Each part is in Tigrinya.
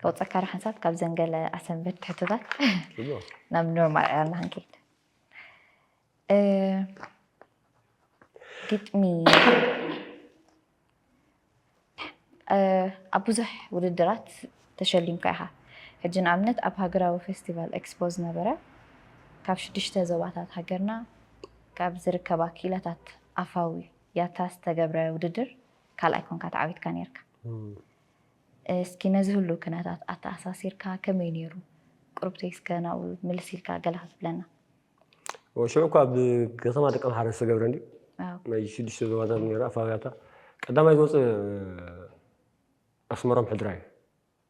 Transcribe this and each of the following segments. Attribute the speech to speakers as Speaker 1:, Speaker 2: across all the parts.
Speaker 1: ከውፀካ ሓንሳብ ካብ ዘንገለ ኣሰንበድ ትሕቶታት ናብ ኖርማል ዕላልና ክንከይድ ግጥሚ ኣብ ብዙሕ ውድድራት ተሸሊምካ ኢኻ ሕጂ ንኣብነት ኣብ ሃገራዊ ፌስቲቫል ኤክስፖ ዝነበረ ካብ ሽዱሽተ ዞባታት ሃገርና ካብ ዝርከባ ክኢላታት ኣፋዊ ያታ ዝተገብረ ውድድር ካልኣይ ኮንካ ተዓዊትካ ነይርካ። እስኪ ነዚ ህሉ ክነታት ኣተኣሳሲርካ ከመይ ነይሩ ቁርብተይ እስከ ናብኡ ምልስ ኢልካ ገለ ክትብለና።
Speaker 2: ሽዑ እኳ ኣብ ከተማ ደቂ ኣምሓረ ዝተገብረ እንዲ ናይ ሽዱሽተ ዞባታት ነይሩ ኣፋውያታ ቀዳማይ ዝወፅ ኣስመሮም ሕድራ እዩ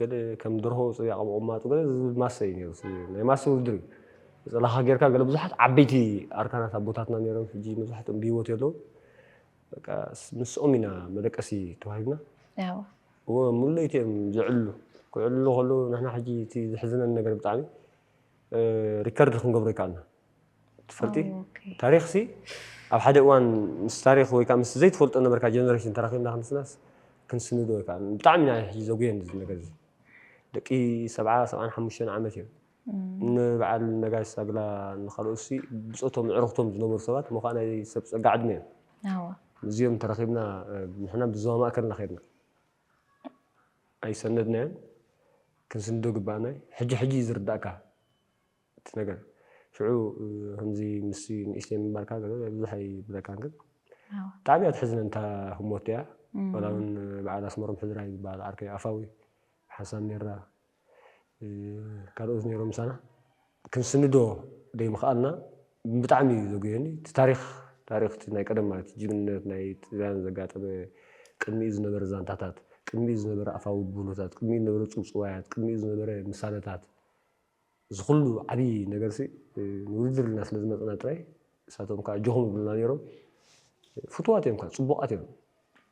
Speaker 2: ገለ ከም ደርሆ ጽብያ ቀብ ቁማጡ ገለ ዝብል ማሰ እዩ ነይሩ እቲ ናይ ማሰ ውድድር እዩ ብጽላኻ ጌርካ ገለ ብዙሓት ዓበይቲ ኣርካናት ኣቦታትና ነይሮም ሕጂ መብዛሕትኦም ብሂወት የለውን በቃ ምስኦም ኢና መደቀሲ ተዋሂብና እወ ሙሉ ለይቲ እዮም ዝዕልሉ ክዕልሉ ከለዉ ንሕና ሕጂ እቲ ዝሕዝነኒ ነገር ብጣዕሚ ሪከርድ ክንገብሮ ኣይከኣልና ትፈልጢ ታሪኽ ሲ ኣብ ሓደ እዋን ምስ ታሪኽ ወይ ከዓ ምስ ዘይትፈልጦ ነበርካ ጀነሬሽን ተራኺብና ክንስናስ ክንስንዶ ኣይከኣልን ብጣዕሚ ኢና ሕጂ ዘጉየን እዚ ነገር እዚ ደቂ ሰብዓ ሰብዓን ሓሙሽተን ዓመት እዮም ንበዓል ነጋሽ ሳግላ ንካልኦት ሲ ብፆቶም ዕርኽቶም ዝነበሩ ሰባት እሞ ከዓ ናይ ሰብ ፀጋ ዕድመ እዮም እዚኦም ተራኺብና ንሕና ብዞባ ማእከልና ከድና ኣይሰነድናዮን ክንስንዶ ግባእና እዩ ሕጂ ሕጂ እዩ ዝርዳእካ እቲ ነገር ሽዑ ከምዚ ምስ ንእሽተይ ምንባርካ ብዙሕ ኣይብለካን ግን ብጣዕሚ እያ ትሕዝነን እታ ህሞት እያ ዋላ እውን በዓል ኣስመሮም ሕዝራይ ዝበሃል ዓርከይ ኣፋዊ ሓሳብ ሜራ ካልኦት ነይሮም ምሳና ክንስንዶ ዘይምኽኣልና ብጣዕሚ እዩ ዘጉየኒ እቲ ታሪክ ታሪክ እቲ ናይ ቀደም ማለት ጅግንነት ናይ ጥልያን ዘጋጠመ ቅድሚኡ ዝነበረ ዛንታታት ቅድሚኡ ዝነበረ ኣፋዊ ብህሎታት ቅድሚኡ ዝነበረ ፅውፅዋያት ቅድሚኡ ዝነበረ ምሳለታት እዚ ኩሉ ዓቢ ነገርሲ ንውድድር ኢልና ስለ ዝመጸና ጥራይ ንሳቶም ከኣ ኣጆኹም ይብሉና ኔሮም። ፍቱዋት እዮም ከኣ ጽቡቓት እዮም።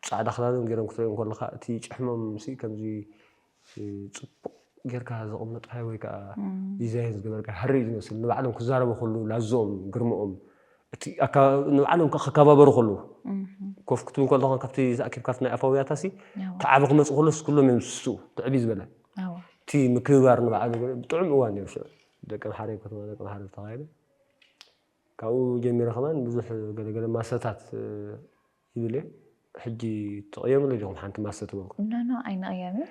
Speaker 2: ጻዕዳ ክዳኖም ጌሮም ክትርእዮም ከለኻ እቲ ጭሕሞምሲ ከምዚ ጽቡቕ ጌርካ ዘቐመጥካዮ ወይ ከኣ ዲዛይን ዝገበርካዮ ሃሪ እዩ ዝመስል። ንባዕሎም ክዛረቡ ከለዉ ላዝኦም ግርምኦም እቲ ኣከባብ ንባዕሎም ከኣ ክከባበሩ ከለዉ ኮፍ ክትብል ከለኻ ካብቲ ተኣኪብካ ኣብቲ ናይ ኣፍ ኣውያታሲ እቲ ዓቢ ክመጽእ ከሎስ ኩሎም እዮም ዝስስኡ እቲ ዕብይ ዝበለ። እቲ ምክብባር ንባዕሉ ጥዑም እዋን ነይሩ ሽዑ ደቂ ኣምሓረይ ከተማ ደቂ ኣምሓረይ ዝተኻየደ ካብኡ ጀሚረ ከማን ብዙሕ ገለገለ ማሰታት ይብል እየ ሕጂ ትቕየምሉ ዲኹም ሓንቲ ማሰ ትበልኩ ኖኖ
Speaker 1: ኣይንቕየምን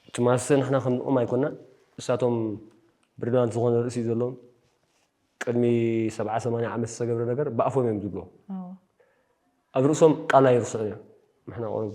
Speaker 1: እቲ
Speaker 2: ማሰ ንሕና ከምኦም ኣይኮናን እሳቶም ብርናንት ዝኾነ ርእሲ ዘለዎም ቅድሚ ሰብዓ ሰማንያ ዓመት ዝተገብረ ነገር ብኣፎም እዮም ዝብልዎ ኣብ ርእሶም ቃል ኣይርስዑን እዮም ንሕና ቁሩብ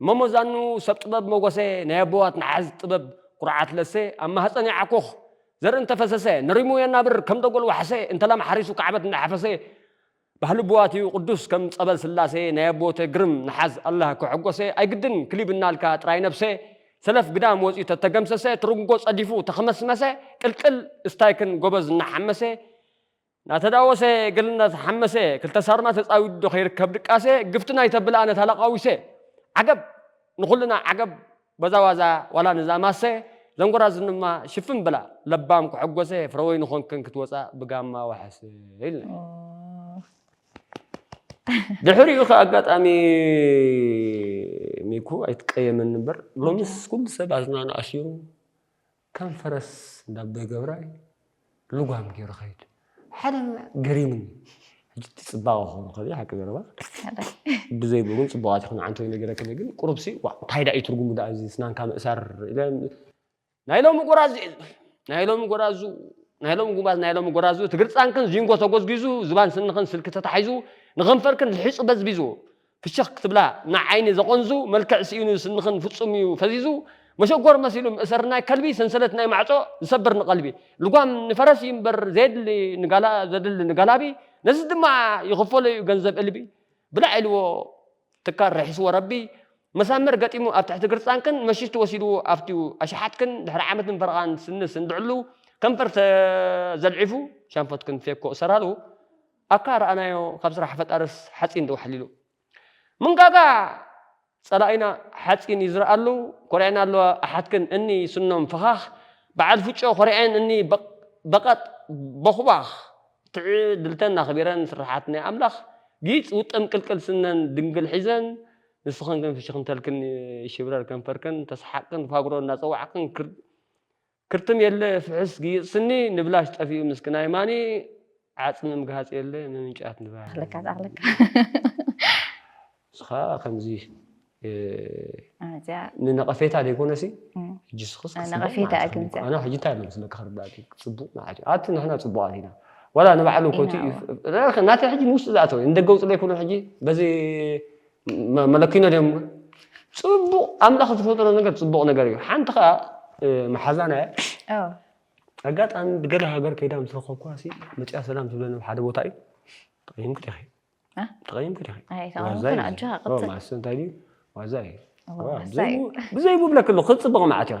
Speaker 2: እሞ መዛኑ ሰብ ጥበብ ሞጎሰ ናይ ኣቦዋት ንሓዝ ጥበብ ኩርዓት ለሰ ኣብ ማህጸን ያዓኩኽ ዘርኢ እንተ ፈሰሰ ንሪሙ የናብር ከም ደጎል ዋሕሰ እንተ ላም ሓሪሱ ካዕበት እንዳ ሓፈሰ ባህሊ ኣቦዋት እዩ ቁዱስ ከም ጸበል ስላሰ ናይ ኣቦዎተ ግርም ንሓዝ ኣላህ ከሐጎሰ ኣይግድን ክሊብ እናልካ ጥራይ ነብሰ ሰለፍ ግዳም ወጽዩ ተተገምሰሰ ትርንጎ ጸዲፉ ተኸመስመሰ ቅልቅል እስታይክን ጎበዝ እናሓመሰ ናተዳወሰ ገል ናተሓመሰ ክልተ ሳርማ ተጻዊዱዶ ከይርከብ ድቃሰ ግፍቲ ናይተብልኣ ነታ ለቃዊሰ ዓገብ ንኹልና ዓገብ በዛ ዋዛ ዋላ ንዛ ማሰ ዘንጎራዝንማ ሽፍን ብላ ለባም ክሕጎሰ ፍረወይኒ ኾንክን ክትወጻእ ብጋማ ዋሕሰ ኢልና ድሕሪኡ ከ ኣጋጣሚ ሚኩ ኣይትቀየመኒ እምበር ሎምስ ኩሉ ሰብ ኣዝናኑ ኣሲሩ ከም ፈረስ እንዳ ኣቦይ ገብራይ ልጓም ጌሩ ኸይድ ሓደ ገሪሙኒ ሕጂ እቲ ጽባቐ ክኾኑ ከ ሓቂ ዘረባ ብዘይ ብሩን ጽቡቓት ይኹን ዓንተይ ነገረክኒ ግን ቁሩብሲ እንታይ ዳእዩ ትርጉሙ ዳኣ እዚ ስናንካ ምእሳር ኢለ ናይ ሎሚ ጎራዙ ናይ ሎሚ ጎራዙ ናይ ሎሚ ጉባዝ ናይ ሎሚ ጎራዙ እቲ ግርጻንክን ዚንጎ ተጎዝጊዙ ዝባን ስንኽን ስልኪ ተታሒዙ ንኸንፈርክን ልሒጹ በዝቢዙ ፍሽኽ ክትብላ ንዓይኒ ዘቖንዙ መልክዕ ስኢኑ ስንኽን ፍጹም'ዩ ፈዚዙ መሸጎር መሲሉ ምእሰር ናይ ከልቢ ሰንሰለት ናይ ማዕጾ ዝሰብር ንቐልቢ ልጓም ንፈረስ እዩ እምበር ዘየድሊ ንጋላ ዘድሊ ንጋላቢ ነዚ ድማ ይኽፈሎ'ዩ ገንዘብ እልቢ ብላዕ ኢልዎ ትካል ርሒስዎ ረቢ መሳምር ገጢሙ ኣብ ትሕቲ ግርጻንክን መሺቱ ወሲድዎ ኣብቲ ኣሽሓትክን ድሕሪ ዓመትን ፈረቓን ስኒ ስንብዕሉ ከንፈር ተዘልዒፉ ሻንፎትክን ፌኮ እሰራሉ ኣካ ረኣናዮ ካብ ስራሕ ፈጣርስ ሓጺን ዶ ኣሕሊሉ። ምንጋጋ ጸላኢና ሓጺን እዩ ዝርኣሉ ኮሪዐን ኣለዋ ኣሓትክን እኒ ስኖም ፈኻኽ በዓል ፍጮ ኮሪዐን እኒ በቐጥ ቦኽባኽ ትዕድልተን ኣኽቢረን ስርሓት ናይ ኣምላኽ ጊጽ ውጥም ቅልቅል ስነን ድንግል ሒዘን ንስኽን ግን ፍሽኽንተልክን ይሽብረር ከንፈርክን ተስሓቅክን ፋግሮ እናጸዋዕክን ክር ክርትም የለ ፍሕስ ግይጽ ስኒ ንብላሽ ጠፊኡ ምስክና የማኒ ዓጽሚ ምግሃጽ የለ ምምንጫት ንባኒ ኣኽለካ
Speaker 1: ዛኽለካ
Speaker 2: እስኻ ከምዚ ኣዚያ
Speaker 1: ንነቐፌታ
Speaker 2: ዘይኮነሲ እም፣ ሕጂ ስኽስ ኣነ ክጽቡቕ ነቐፌታ መዓልቲ እግንዘ። ክህልወካ።
Speaker 1: ኣነ ሕጂ እንታይ መስለካ
Speaker 2: ክርዳእኪ ጽቡቕ መዓልቲ እዩ። ኣቲ ንሕና ጽቡቓት ኢና ዋላ ንባዕሉ ኮቲ ኢና እዩ ናተይ ሕጂ ንውሽጢ ዝኣተወ እዩ ንደገ ውጽለይ ኩሉ ሕጂ በዚ መለኪኖ ድዮም እሞ ጽቡቕ ኣምላኽ ዝፈጠሮ ነገር ጽቡቕ ነገር እዩ ሓንቲ ከኣ መሓዛና እያ ኣጋጣሚ ብገለ ሃገር ከይዳ ምስ ረኸብኩዋ ሲ መፅያ ሰላም ትብለኒ ኣብ ሓደ ቦታ እዩ ተቐይምኩ ዲኺ ተቐይምኩ ዲኺ
Speaker 1: ማእሰ እንታይ ድዩ
Speaker 2: ዋዛ እዩ ብዘይ ብብለክሉ ክፅብቕ መዓት እዩ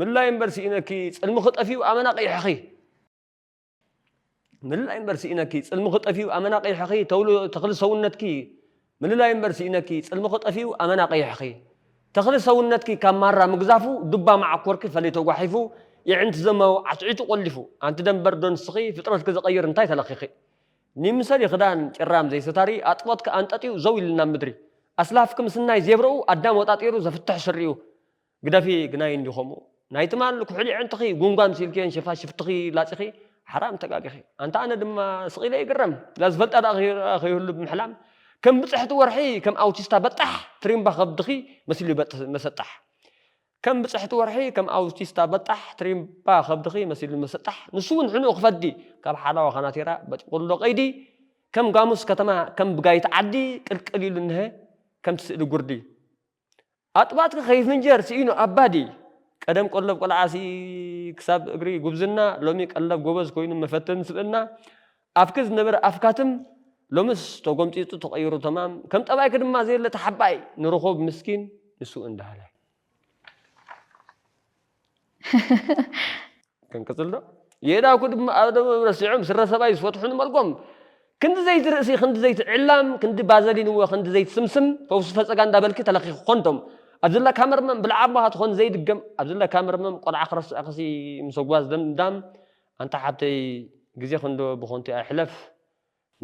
Speaker 2: ምላይ እምበር ስኢነኪ ጽልምኺ ጠፊኡ ኣመና ቒሕኺ ምልላይ እምበር ስኢነኪ ጽልምኺ ጠፊኡ ኣመና ቒሕኺ ተውሎ ተኽሊ ሰውነትኪ ምልላይ እምበር ስኢነኪ ጽልምኺ ጠፊኡ ኣመና ቒሕኺ ተኽሊ ሰውነትኪ ካብ ማራ ምግዛፉ ዱባ መዓኮርኪ ፈሊቶ ጓሒፉ የዕንቲ ዘማዊ ዓትዒቱ ቆሊፉ ኣንቲ ደንበር ዶ ንስኺ ፍጥረትኪ ዝቐይር እንታይ ተለኺኺ ኒምሰሊ ክዳን ጭራም ዘይሰታሪ ኣጥቦትኪ ኣንጠጥዩ ዘው ኢልና ምድሪ ኣስላፍኪ ምስናይ ዜብረኡ ኣዳም ወጣጢሩ ዘፍትሕ ስሪኡ ግደፊ ግናይ እንዲዩ ከምኡ ናይ ትማል ኩሕሊ ኣዕንትኺ ጉንጓን ሲልክዮን ሸፋሽፍትኺ ላጺኺ ሓራም ተጋጊኺ ኣንታ ኣነ ድማ ስቅ ኢለ ይግረም እዛ ዝፈልጣ ደኣ ከይህሉ ብምሕላም ከም ብጽሕቲ ወርሒ ከም ኣውቲስታ በጣሕ ትሪምባ ከብድኺ መሲሉ ይበጥስ መሰጣሕ ከም ብጽሕቲ ወርሒ ከም ኣውቲስታ በጣሕ ትሪምባ ከብድኺ መሲሉ መሰጣሕ ንሱ ውን ሕኑኡ ክፈዲ ካብ ሓላዋ ካናቲራ በጢቁሎ ቀይዲ ከም ጋሙስ ከተማ ከም ብጋይት ዓዲ ቅልቅል ኢሉ እንሀ ከምቲ ስእሊ ጉርዲ ኣጥባትኪ ከይፍንጀር ስኢኑ ኣባዲ ቀደም ቀሎብ ቆልዓሲ ክሳብ እግሪ ጉብዝና ሎሚ ቀለብ ጎበዝ ኮይኑ መፈተኒ ስብእና ኣፍኪ ዝነበረ ኣፍካትም ሎምስ ተጎምጺጹ ተቀይሩ ተማም ከም ጠባይኪ ድማ ዘየለ ተሓባኢ ንርኹብ ምስኪን ንሱ እንዳሃላይ ክንቅጽል ዶ? የእዳውኩ ድማ ኣብ ደምኦም ረሲዖም ስረ ሰብኣይ ዝፈትሑ ንመልጎም። ክንዲ ዘይቲ ርእሲ ክንዲ ዘይቲ ዕላም ክንዲ ባዘሊን እወ ክንዲ ዘይቲ ስምስም ፈውሲ ፈጸጋ እንዳበልኪ ተለኺኺ ኮንዶም ኣብ ዝለካ መርመም ብልዕ ኣቦኻ ትኾን ዘይድገም ኣብ ዝለካ መርመም ቆልዓ ክረስዕክሲ ምሰጓዝ ደምዳም ኣንታ ሓብተይ ግዜኽንዶ ብኾንቱ ኣይሕለፍ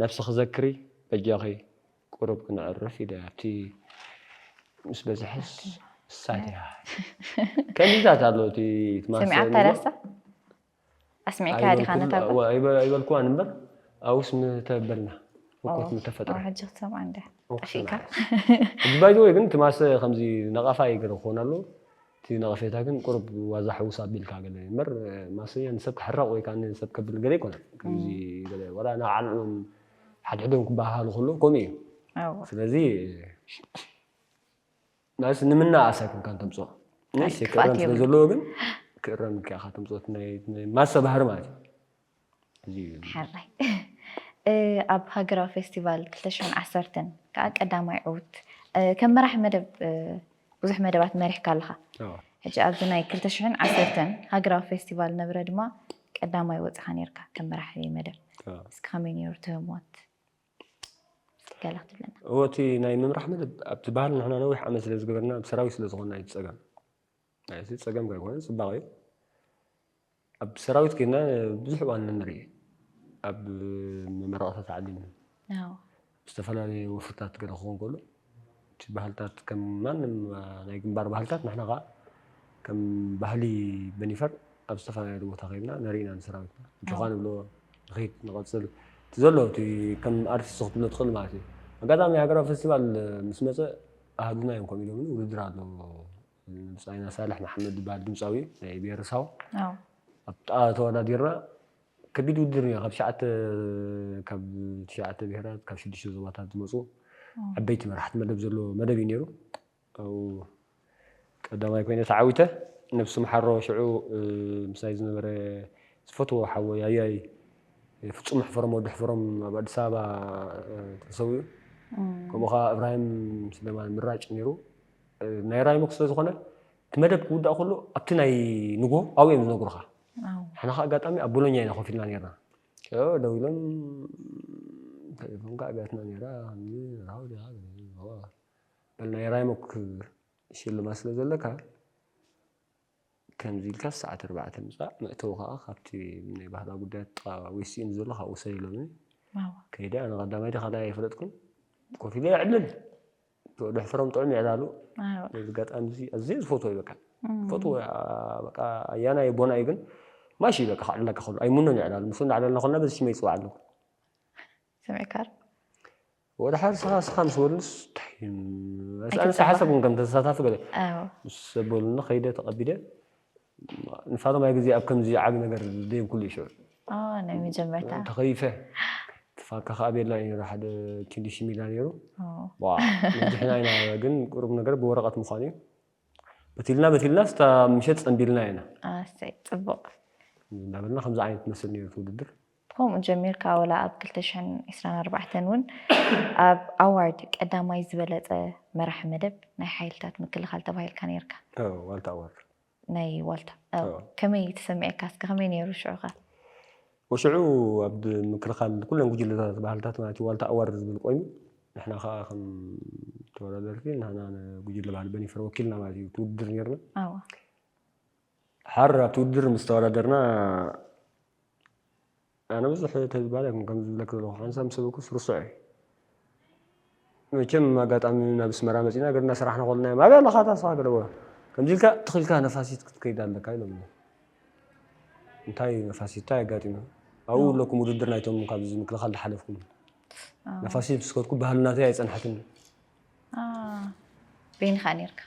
Speaker 2: ነብስኺ ዘክሪ በጃኺ ቁሩብ ክነዕርፍ ኢለ ኣብቲ ምስ በዝሐስ እሳት እያ ከምዚታት ኣሎ እቲ ትማሰል
Speaker 1: ኣስሚዕካ ዲኻ ነታ ኣይበልኩዋን እምበር
Speaker 2: ኣውስ ምተበልና ህኮት ምተፈጥረ ሕጂ ክትሰምዓ እንደ
Speaker 1: ጠፊእካ
Speaker 2: ባይዘወይ ግን ትማሰ ከምዚ ነቐፋ ይገረ ክኾን ኣለዎ እቲ ነቐፌታ ግን ቁሩብ ዋዛ ሕውስ ኣቢልካ ገለ እዩ እምበር ማስያ ንሰብ ክሕረቕ ወይ ከኣ ንሰብ ከብል ገለ ኣይኮነን ከምዚ ገለ ወላ ንባዕሎም እውን ሓድሕዶም ክበሃሃሉ ከለዉ ከምኡ እዩ እወ ስለዚ ማለት ንምናኣስ ኣይኮንካ እንተምጽኦ ናይ ክፍኣት ክእረም ስለ የብሉን ዘለዎ ግን ክእረም ኢልካ ኢኻ ተምጽኦ እቲ ናይ ናይ ማሰ ባህሪ ማለት እዩ
Speaker 1: ሕራይ ኣብ ሃገራዊ ፌስቲቫል ክልተ ሽሕን ዓሰርተን ከዓ ቀዳማይ ዕውት ከም መራሒ መደብ ብዙሕ መደባት መሪሕካ ኣለኻ ሕጂ ኣብዚ ናይ ክልተ ሽሕን ዓሰርተን ሃገራዊ ፌስቲቫል ነብረ ድማ ቀዳማይ ወፅኻ ነርካ ከም መራሒ መደብ እስኪ ከመይ ነይሩ እቲ ህሞት ገለ ክትብለና እወ እቲ ናይ ምምራሕ
Speaker 2: መደብ ኣብቲ ባህል ንሕና ነዊሕ ዓመት ስለ ዝገበርና ብሰራዊት ስለ ዝኾንና እዩ ፀገም ናይ እዚ ጸገም ኣይኮነን ጽባቐ እዩ። ኣብ ሰራዊት ኬና ብዙሕ እዋን ንርኢ ኣብ መመረቕታ ተዓሊም ዝተፈላለዩ ወፍርታት ገለ ክኸውን ከሎ እቲ ባህልታት ከም ማንም ናይ ግንባር ባህልታት ንሕና ከዓ ከም ባህሊ በኒፈር ኣብ ዝተፈላለዩ ቦታ ከይድና ነርኢና ንሰራዊትና እንተኳ ንብሎ ንኸይድ ንቐፅል እቲ ዘሎ እቲ ከም ኣርቲስት ክትብሎ ትኽእል ማለት እዩ ኣጋጣሚ ሃገራዊ ፌስቲቫል ምስ መፀ ኣሃዱና እዮም ከምኡ ኢሎምኒ ውድድር ኣሎ ብጻይና ሳልሕ መሓመድ ዝበሃል ድምጻዊ ናይ ብሄረሳው ኣብጣ ተወዳዲርና ከቢድ ውድድር ነይሩ ካብ ትሽዓተ ካብ ትሽዓተ ብሄራት ካብ ሽዱሽተ ዞባታት ዝመፁ ዓበይቲ መራሕቲ መደብ ዘለዎ መደብ እዩ ነይሩ ኣብኡ ቀዳማይ ኮይነ ተዓዊተ ነብሱ መሓሮ ሽዑ ምሳይ ዝነበረ ዝፈትዎ ሓወይ ኣያይ ፍፁም ሕፈሮም ወዲ ሕፈሮም ኣብ ኣዲስ ኣበባ ተሰዊኡ ከምኡ ከዓ እብራሂም ስለማን ምራጭ ነይሩ ናይ ራይሞክ ስለ ዝኾነ እቲ መደብ ክውዳእ ከሎ ኣብቲ ናይ ንግሆ ኣብኡ እዮም ዝነግሩኻ ንሕና ከዓ ኣጋጣሚ ኣብ ቦሎኛ ኢና ኮፍ ኢልና ነርና ደው ኢሎም ቴሌፎን ከዓ ቢያትና ነይራ በል ናይ ራይሞክ ሽልማ ስለ ዘለካ ከምዚ ኢልካ ሰዓት ኣርባዕተ ምፃእ መእተዊ ከዓ ካብቲ ናይ ባህላዊ ጉዳያት ጥቃ ዌስቲን ዘሎ ካብ ውሰድ ኢሎምኒ ከይደ ኣነ ቀዳማይ ደ ካልኣይ ኣይፈለጥኩን ኮፍ ኢለ ዕልል ደሕፍሮም ጥዑም ይዕላሉ ነዚ ጋጣሚ እዚ ኣዝየ ዝፈትዎ እዩ በቃ ፈትዎ በቃ ኣያና እዩ ቦና እዩ ግን ማሽ እዩ በቃ ክዕለካ ከሉ ኣይምኖን ይዕላሉ ምስ እንዳዕለልና ከልና በዚ ሽመ ይፅዋዕ ኣለኩ
Speaker 1: ስሚዕካር
Speaker 2: ወደ ሓደ ስኻ ስኻ ምስ በሉስ ታይ ኣነ ሓሰብኩም ከም ተሳታፊ ገለ ምስ በሉኒ ከይደ ተቐቢለ ንሳቶም ኣይ ግዜ ኣብ ከምዚ ዓቢ ነገር ደይብኩሉ ኢዩ ሽዑ ኦህ ናይ መጀመርታ
Speaker 1: ተኸይፈ
Speaker 2: ትፋካ ከኣ ቤልና ኢዩ ነይሩ ሓደ ኪንዲ ሽሚላ ነይሩ ኦህ ነጅሕና ኢና ግን ቁሩብ ነገር ብወረቀት ምዃኑ ኢዩ በቲልና በቲልና ስታ ምሸት ጸንቢልናያ ኢና ኣሰይ ጽቡቅ
Speaker 1: እናበልና
Speaker 2: ከምዚ ዓይነት መስል ነይሩ እቲ ውድድር። ከምኡ ጀሚርካ
Speaker 1: ወላ ኣብ ክልተ ሽሕን ዕስራን ኣርባዕተን እውን ኣብ ኣዋርድ ቀዳማይ ዝበለጸ መራሒ መደብ ናይ ሓይልታት ምክልኻል ተባሂልካ ነይርካ። ኣዎ ዋልታ ኣዋርድ።
Speaker 2: ናይ ዋልታ
Speaker 1: ኣዎ። ኣዎ። ከመይ ተሰሚዕካ እስከ ከመይ ነይሩ ሽዑ ከ? ወሽዑ
Speaker 2: ኣብ ምክልኻል ኩለን ጉጅለታት ባህልታት ማለት እዩ ዋልታ ኣዋርድ ዝብል ቆይሙ ንሕና ከኣ ከም ተወዳደርቲ ንሕና ንጉጅለ ባህሊ በኒፈር ወኪልና ማለት እዩ እቲ ውድድር ነይርና። ኣዎ። ሓር ኣብቲ ውድድር ምስ ተወዳደርና ኣነ ብዙሕ ተዝባል ኣይኮን ከም ዝብለክ ዘለኹ ሓንሳብ ምስ በልኩስ ርሱዕ እዩ መቸም ኣጋጣሚ ናብ ስመራ መፂና ገርና ስራሕና ኮልና እዮም ኣብያ ኣለኻ ታስኻ ገለዎ ከምዚ ኢልካ ትኽኢልካ ነፋሲት ክትከይድ ኣለካ ኢሎም እንታይ እዩ ነፋሲት እንታይ ኣጋጢሙ ኣብኡ ኣለኩም ውድድር ናይቶም ካብዚ ምክልኻል ዝሓለፍኩም ነፋሲት ምስ ከድኩ ባህልናተይ ኣይፀንሐትን
Speaker 1: በይንኻ ነርካ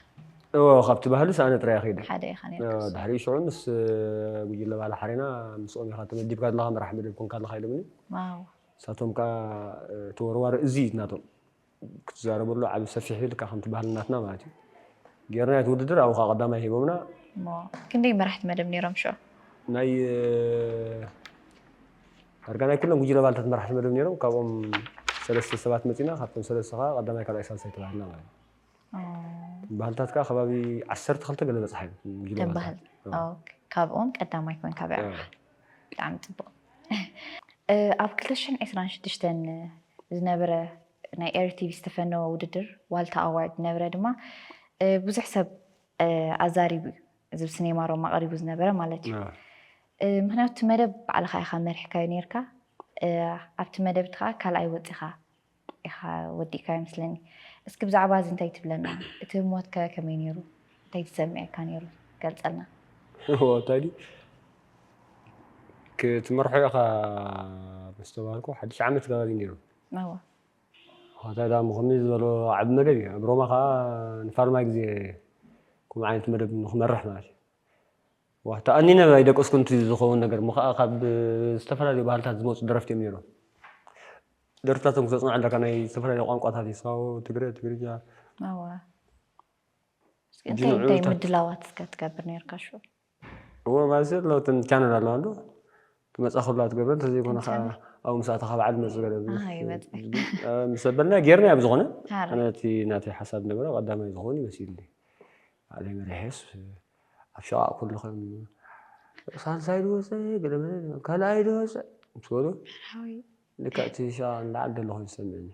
Speaker 1: እዎ ካብቲ
Speaker 2: ባህልስ ኣነ ጥራይ ከይደ ሓደ ኢኻ ነርካ ድሕሪ
Speaker 1: ሽዑ ምስ
Speaker 2: ጉጅለ ባላ ሓሬና ምስኦም ኢኻ ተመዲብካ ዘለኻ መራሕ መደብ ኮንካ ኣለኻ ኢሎምኒ ዋው ንሳቶም
Speaker 1: ከዓ
Speaker 2: ተወርዋሪ እዚ እዩ ናቶም ክትዛረበሉ ዓብ ሰፊሕ እዩ ልካ ከምቲ ባህሊ ናትና ማለት እዩ ጌርና እቲ ውድድር ኣብኡ ከዓ ቀዳማይ ሂቦምና እሞ ክንደይ
Speaker 1: መራሕቲ መደብ ነይሮም ሽዑ ናይ
Speaker 2: ዳርጋ ናይ ኩሎም ጉጅለ ኣባልታት መራሕቲ መደብ ነይሮም፣ ካብኦም ሰለስተ ሰባት መጺእና፣ ካብቶም ሰለስተ ከኣ ቀዳማይ ካልኣይ ሳልሳይ ተባሂልና ማለት እዩ። እቶም ባህልታት ከኣ ከባቢ ዓሰርተ ክልተ ገለ በጽሓ እዮም እቶም ጉጅለ እቶም ባህሊ ባህልታት። ኦ፣
Speaker 1: ኦኬ። ካብኦም ቀዳማይ ኮንካ በዕራኻ ብጣዕሚ ጽቡቕ እ ኣብ ክልተ ሽሕን ዕስራን ሽዱሽተን ዝነበረ ናይ ኤሪ ቲቪ ዝተፈነወ ውድድር ዋልታ ኣዋርድ ዝነበረ ድማ እ ብዙሕ ሰብ እ ኣዛሪቡ እዩ እዚ ብ ስኔማ ሮማ ቀሪቡ ዝነበረ ማለት እዩ ምክንያቱ እቲ መደብ ባዕልካ ኢካ መሪሕካዮ ኔርካ ኣብቲ መደብ እቲ ከኣ ካልኣይ ወጺካ ኢካ ወዲእካዮ መስለኒ እስኪ ብዛዕባ እዚ እንታይ ትብለና እቲ ሞት ከ ከመይ ኔሩ እንታይ ትሰሚዕካ ኔሩ ገልጸልና ታዲ
Speaker 2: ክትመርሖ ኢካ ምስ ተባሃልኩ ሓድሽ ዓመት ከባቢ ኔሩ
Speaker 1: ሆታይ
Speaker 2: ዳሞ ከምዚ ዝበሎ ዓቢ መደብ እዩ ኣብ ሮማ ከኣ ንፋርማይ ግዜ ከምኡ ዓይነት መደብ ንክመርሕ ማለት እዩ ዋህ ተኣኒነ ኣይደቀስኩን እቲ ዝኸውን ነገር እሞ ከኣ ካብ ዝተፈላለዩ ባህልታት ዝመጹ ደረፍቲ እዮም ነይሮም ደርፍታቶም ክተጽንዕ ኣለካ ናይ ዝተፈላለዩ ቋንቋታት እዩ ሳሆ ትግረ ትግርኛ እወ እንታይ እንታይ ምድላዋት
Speaker 1: እስከ ትገብር ነርካ ሽዑ እወ ማለትሲ
Speaker 2: ለውጥን ቻነል ኣለዋ እንዶ ትመፅኣ ኩሉ ኣትገብረን እንተዘይኮነ ከዓ እንቻለ ኣብኡ ምስ ኣተኻ በዓል ዝመፅእ ገለ ብዙሕ ኣሃ ይመፅእ ዝብል እ፣ ምስ ኣበልና ጌርናዮ ብዝኾነ ኣነ ሃራይ እቲ ናተይ ሓሳብ ዝነበረ ቀዳማይ ዝኸውን እዩ መሲሉኒ ባዕለይ መሪሐስ እ፣ ኣብ ሸቓቕ ኩሉ ከም ሳልሳይ ዶ ወፀ ገለ መለ ካልኣይ ዶ ወፀ ምስ በሉ መርሃዊ ልክዕ እቲ ሸቓቕ ንላዕሊ ዘሎ ኮይኑ ዝሰምዕኒ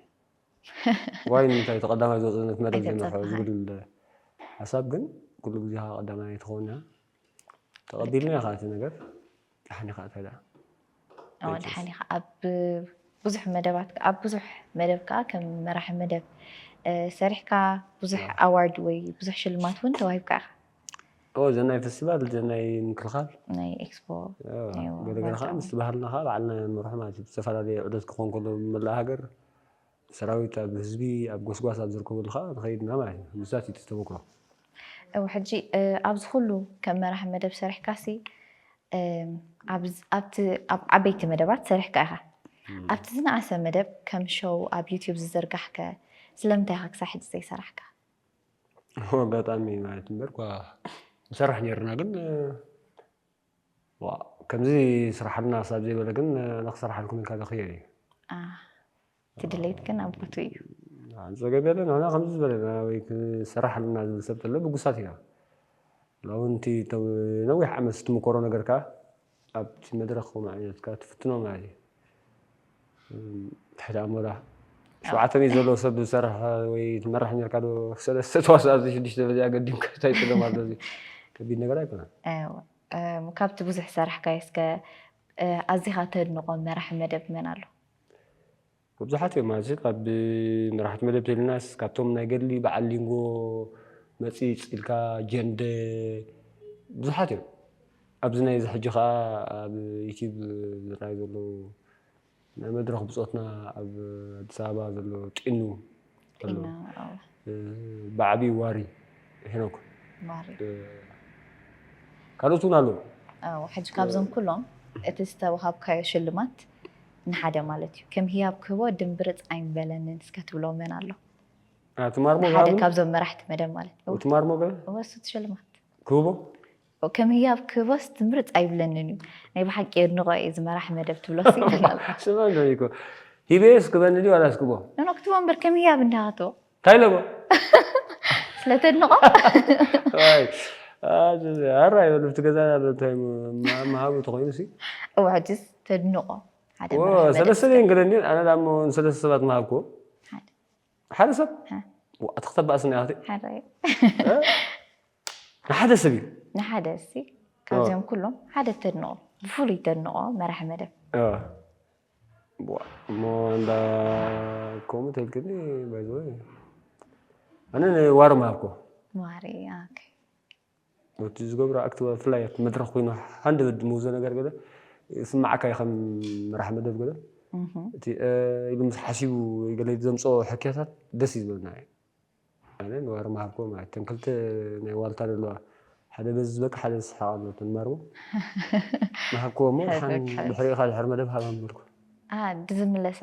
Speaker 2: ዋይ ንምንታይ እቲ ቀዳማይ ዝወጽእ ነቲ መደብ ዝመርሖ ዝብል ሓሳብ ግን ኩሉ ግዜ ከኣ ቀዳማይ ኣይትኸውንያ ተቐቢልናዮ ከኣ እቲ ነገር ደሓን ኢኻ ኣታ ደኣ ኣዎ
Speaker 1: ደሓን ኢኻ ኣብ ብዙሕ መደባት ኣብ ብዙሕ መደብ ከኣ ከም መራሒ መደብ ሰሪሕካ ብዙሕ ኣዋርድ ወይ ብዙሕ ሽልማት እውን ተዋሂብካ ኢኻ ኦ እዘን
Speaker 2: ናይ ፈስቲቫል እዘን ናይ ምክልኻል ናይ ኤክስፖ
Speaker 1: ገለገለ ከዓ
Speaker 2: ምስ ባህልና ከዓ ባዕልና ንመርሖ ማለት እዩ ዝተፈላለየ ዑደት ክኾን ከሎ መላእ ሃገር ሰራዊት ኣብ ህዝቢ ኣብ ጎስጓስ ኣብ ዝርከበሉ ከዓ ንኸይድ ኢና ማለት እዩ ምስዛት እዩ ተተመክሮ እው
Speaker 1: ሕጂ ኣብዚ ኩሉ ከም መራሒ መደብ ሰሪሕካሲ ኣብቲ ኣብ ዓበይቲ መደባት ሰሪሕካ ኢኻ ኣብቲ ዝነኣሰ መደብ ከም ሸው ኣብ ዩትዩብ ዝዝርጋሕከ ስለምንታይ ኢኻ ክሳብ ሕጂ ዘይሰራሕካ
Speaker 2: ኣጋጣሚ ማለት እምበር እኳ ንሰርሕ ነይርና ግን ከምዚ ስራሓልና ሳብ ዘይበለ ግን ንክሰርሓልኩም ኢልካ ዘኽየል እዩ እቲ
Speaker 1: ድሌት ግን ኣብ ቦቱ እዩ ፀገም
Speaker 2: የለን ንሕና ከምዚ ዝበለና ወይ ክሰራሓልና ዝብል ሰብ ተሎ ብጉሳት ኢና ሎውንቲ ነዊሕ ዓመት ስትምኮሮ ነገር ከዓ ኣብቲ መድረኽ ከምኡ ዓይነት ከኣ ትፍትኖ ማለት እዩ። ትሕቲ ኣሞራ ሸውዓተ ሚእቲ ዘለዎ ሰብ ዝሰርሐ ወይ ትመራሕ ኔርካ ዶ ሰለስተ ተዋሳእ ኣብዚ ሽዱሽተ ደረጃ ኣገዲምካ እንታይ ትብሎም ኣሎ እዚ ከቢድ ነገር ኣይኮነን። እወ እም፣
Speaker 1: ካብቲ ብዙሕ ዝሰራሕካዮ እስከ ኣዚኻ ተድንቖ መራሒ መደብ መን ኣሎ?
Speaker 2: መብዛሕት ኦም ኣዚ ካብ መራሕቲ መደብ ተልናስ ካብቶም ናይ ገድሊ በዓል ሊንጎ መጺጽ ኢልካ ጀንደ ብዙሓት እዮም ኣብዚ ናይ እዚ ሕጂ ከኣ ኣብ ዩቲብ ዝራኣዩ ዘለዉ ናይ መድረኽ ብጾትና ኣብ ኣዲስ ኣበባ ዘሎ ጢኑ ኣሎ ብዓብዪ ዋሪ ሄኖክ ካልኦት እውን ኣለዉ። ሕጂ ካብዞም
Speaker 1: ኩሎም እቲ ዝተዋሃብካዮ ሽልማት ንሓደ ማለት እዩ ከም ህያብ ክህቦ ድምብርፅ ኣይምበለንን እስከ ትብሎ መን ኣሎ? ሓደ
Speaker 2: ካብዞም
Speaker 1: መራሕቲ መደብ ማለት እዩ። ትማር ሞገ እወ
Speaker 2: እሱ ሽልማት
Speaker 1: ክህቦ
Speaker 2: ከም
Speaker 1: ህያብ ክህቦስ ትምርጽ ኣይብለንን እዩ። ናይ ብሓቂ የድንቆ እየ እዚ መራሒ መደብ ትብሎስ ይብል ኣሎ። ስማ እንዶ ኒኮ
Speaker 2: ሂበዮስ ክበኒ ድዩ ዋላስ ክቦ? ኖኖ ክትቦ እምበር ከም
Speaker 1: ህያብ እንዳ ክትቦ። እንታይ ለቦ? ስለ ተድንቆ። ዋይ
Speaker 2: ኣራ ይበሉ ኣብቲ ገዛና ኣሎ እንታይ መሃቡ ተኮይኑ ሲ እወ ሕጅስ
Speaker 1: ተድንቆ ሓደ መራሒ መደብ ሰለስተ
Speaker 2: ድየን ገለን ድየን ኣነ ዳሞ ንሰለስተ ሰባት መሃብክዎ ንሓደ ሰብ ኣቲ ክተባእ ስኒ ኣቲ
Speaker 1: ንሓደ
Speaker 2: ሰብ እዩ ንሓደ እሲ
Speaker 1: ካብዚኦም ኩሎም ሓደ ተድንቆ ብፍሉይ ተድንቆ መራሒ መደብ
Speaker 2: እሞ እንዳ ከምኡ ተልክኒ ባይዘወ ኣነ ዋሪ ምሃብኮ ዋሪ
Speaker 1: እቲ
Speaker 2: ዝገብሮ ኣክት ብፍላይ ኣብቲ መድረኽ ኮይኑ ሃንደበት ዝመውዞ ነገር ገለ ይስመዓካ እዩ ከም መራሒ መደብ ገለ እቲ ኢሉ ምስ ሓሲቡ ወይ ገለ ዘምጽኦ ሕክያታት ደስ እዩ ዝበለና እዩ ኣነ ንዋር መሃብኮ ማለት እተን ክልተ ናይ ዋልታ ዘለዋ ሓደ በዚ ዝበቅ ሓደ ዝስሓቅ ኣሎ እተን ማርቦ መሃብኮ እሞ ድሓን ድሕሪኻ ድሕሪ መደብ ሃባም በልኩ ድዝምለሳ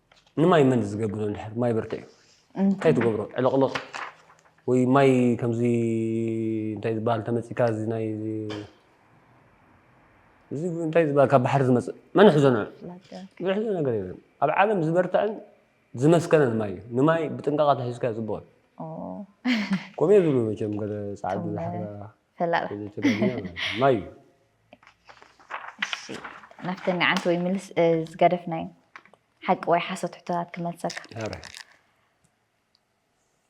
Speaker 2: ንማይ መን ዝገብሮ እንድሕር ማይ ብርትዕ እዩ እንታይ ትገብሮ ዕልቕልቕ ወይ ማይ ከምዚ እንታይ ዝበሃል ተመፂካ እዚ ናይ እዚ እንታይ ዝበሃል ካብ ባሕሪ ዝመፅእ መን ሕዞ ንዑ ዝሕዞ ነገር የለን ኣብ ዓለም ዝበርትዐን ዝመስከነን ማይ እዩ ንማይ ብጥንቃቐ ተሒዝካ ፅቡቕ እዩ ከምኡ ዝብሉ መቸም ገለ ፃዓዱ ዝሓራ ፈላጥ
Speaker 1: እዚ ትደግምዮ
Speaker 2: ማለት እዩ። ማዩ እሺ
Speaker 1: ናፍተን ንዓንቲ ወይ ምልስ እ፣ ዝገደፍናዮ ሓቂ ወይ ሓሶት ሕቶታት ክመልሰካ ሃረ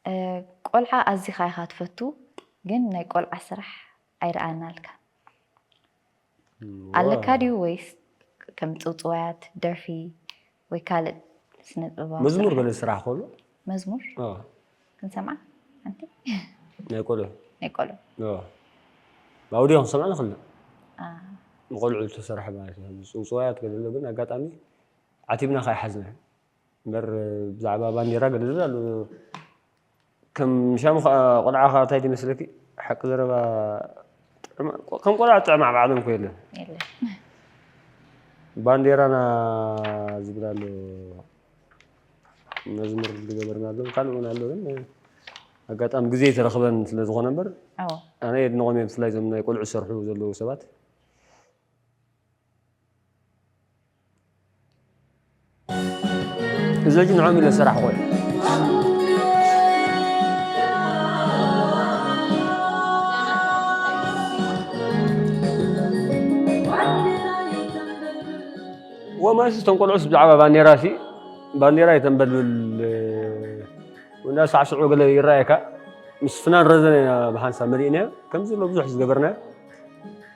Speaker 1: እ፣ ቆልዓ ኣዚኻ ኢኻ ትፈቱ ግን ናይ ቆልዓ ስራሕ ኣይረኣናልካ ኣለካ ድዩ ወይስ ከም ጽውጽዋያት ደርፊ ወይ ካልእ ስነ ጥበባዊ መዝሙር በለ ስራሕ ኮሎ
Speaker 2: መዝሙር
Speaker 1: ክንሰምዓ ሓንቲ ናይ
Speaker 2: ቆልዑ ናይ ቆልዑ ኣውድዮ ክንሰምዓ ንኽእል ንቆልዑ ዝተሰርሐ ማለት እዩ ጽውጽዋያት ገለ ግን ኣጋጣሚ ዓቲብና ከይሓዝና እምበር ብዛዕባ ባንዴራ ገለ ኣሎ ከም ሻሙ ከኣ ቆልዓ ከኣ እንታይ ይመስለኪ ሓቂ ዘረባ ከም ቆልዓ ጥዕም ኣብ ዓለም ኮ የለን ባንዴራና ዝብል ኣሎ መዝሙር ዝገበርና ኣሎ ካልእ እውን ኣሎ ግን ኣጋጣሚ ግዜ ተረኽበን ስለ ዝኾነ እምበር ኣነ የድንቖም እየ ብፍላይ እዞም ናይ ቆልዑ ዝሰርሑ ዘለዉ ሰባት እዞች ንዖም ኢለ ዝሰራሕኹ እዮም ወማስ እቶም ቆልዑስ ብዛዕባ ባንዴራ ሲ ባንዴራ የተንበልብል ወንዳ ሳዕስዑ ገለ ይረኣየካ ምስ ፍናን ረዘነ ብሓንሳብ መሊእናዮ ከምዚ ሎ ብዙሕ ዝገበርናዮ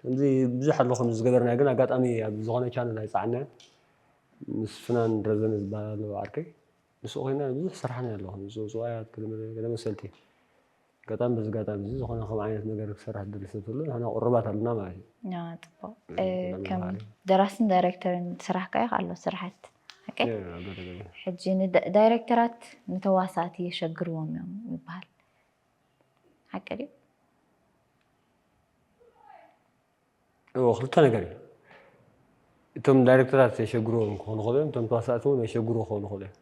Speaker 2: ከምዚ ብዙሕ ኣሎ ከምዚ ዝገበርናዮ ግን ኣጋጣሚ ኣብ ዝኾነ ቻነል ኣይጸዓንናዮን ምስ ፍናን ረዘነ ዝበሃል ኣሎ ዓርከይ ምስኡ ኮይና ብዙሕ ሰራሕናዮ ኣሎ ከምዚ ጽውጽዋያት ገለ ገለ መሰልቲ ኣጋጣሚ በዚ ኣጋጣሚ እዚ ዝኾነ ከም ዓይነት ነገር ክሰርሕ ዝደሊ ሰብ ተሎ ንሕና ቁሩባት ኣለና ማለት እዩ ጽቡቕ
Speaker 1: ከም ደራስን ዳይሬክተርን ስራሕካ እዩ ኣሎ ስራሕት ሕጂ ንዳይሬክተራት ንተዋሳእቲ የሸግርዎም እዮም ይበሃል ሓቂ
Speaker 2: ድዩ? እዎ ክልተ ነገር እዩ እቶም ዳይሬክተራት የሸግርዎም ክኾኑ ክእሉ እዮም እቶም ተዋሳእቲ እውን የሸግሩ ክኾኑ ክእሉ እዮም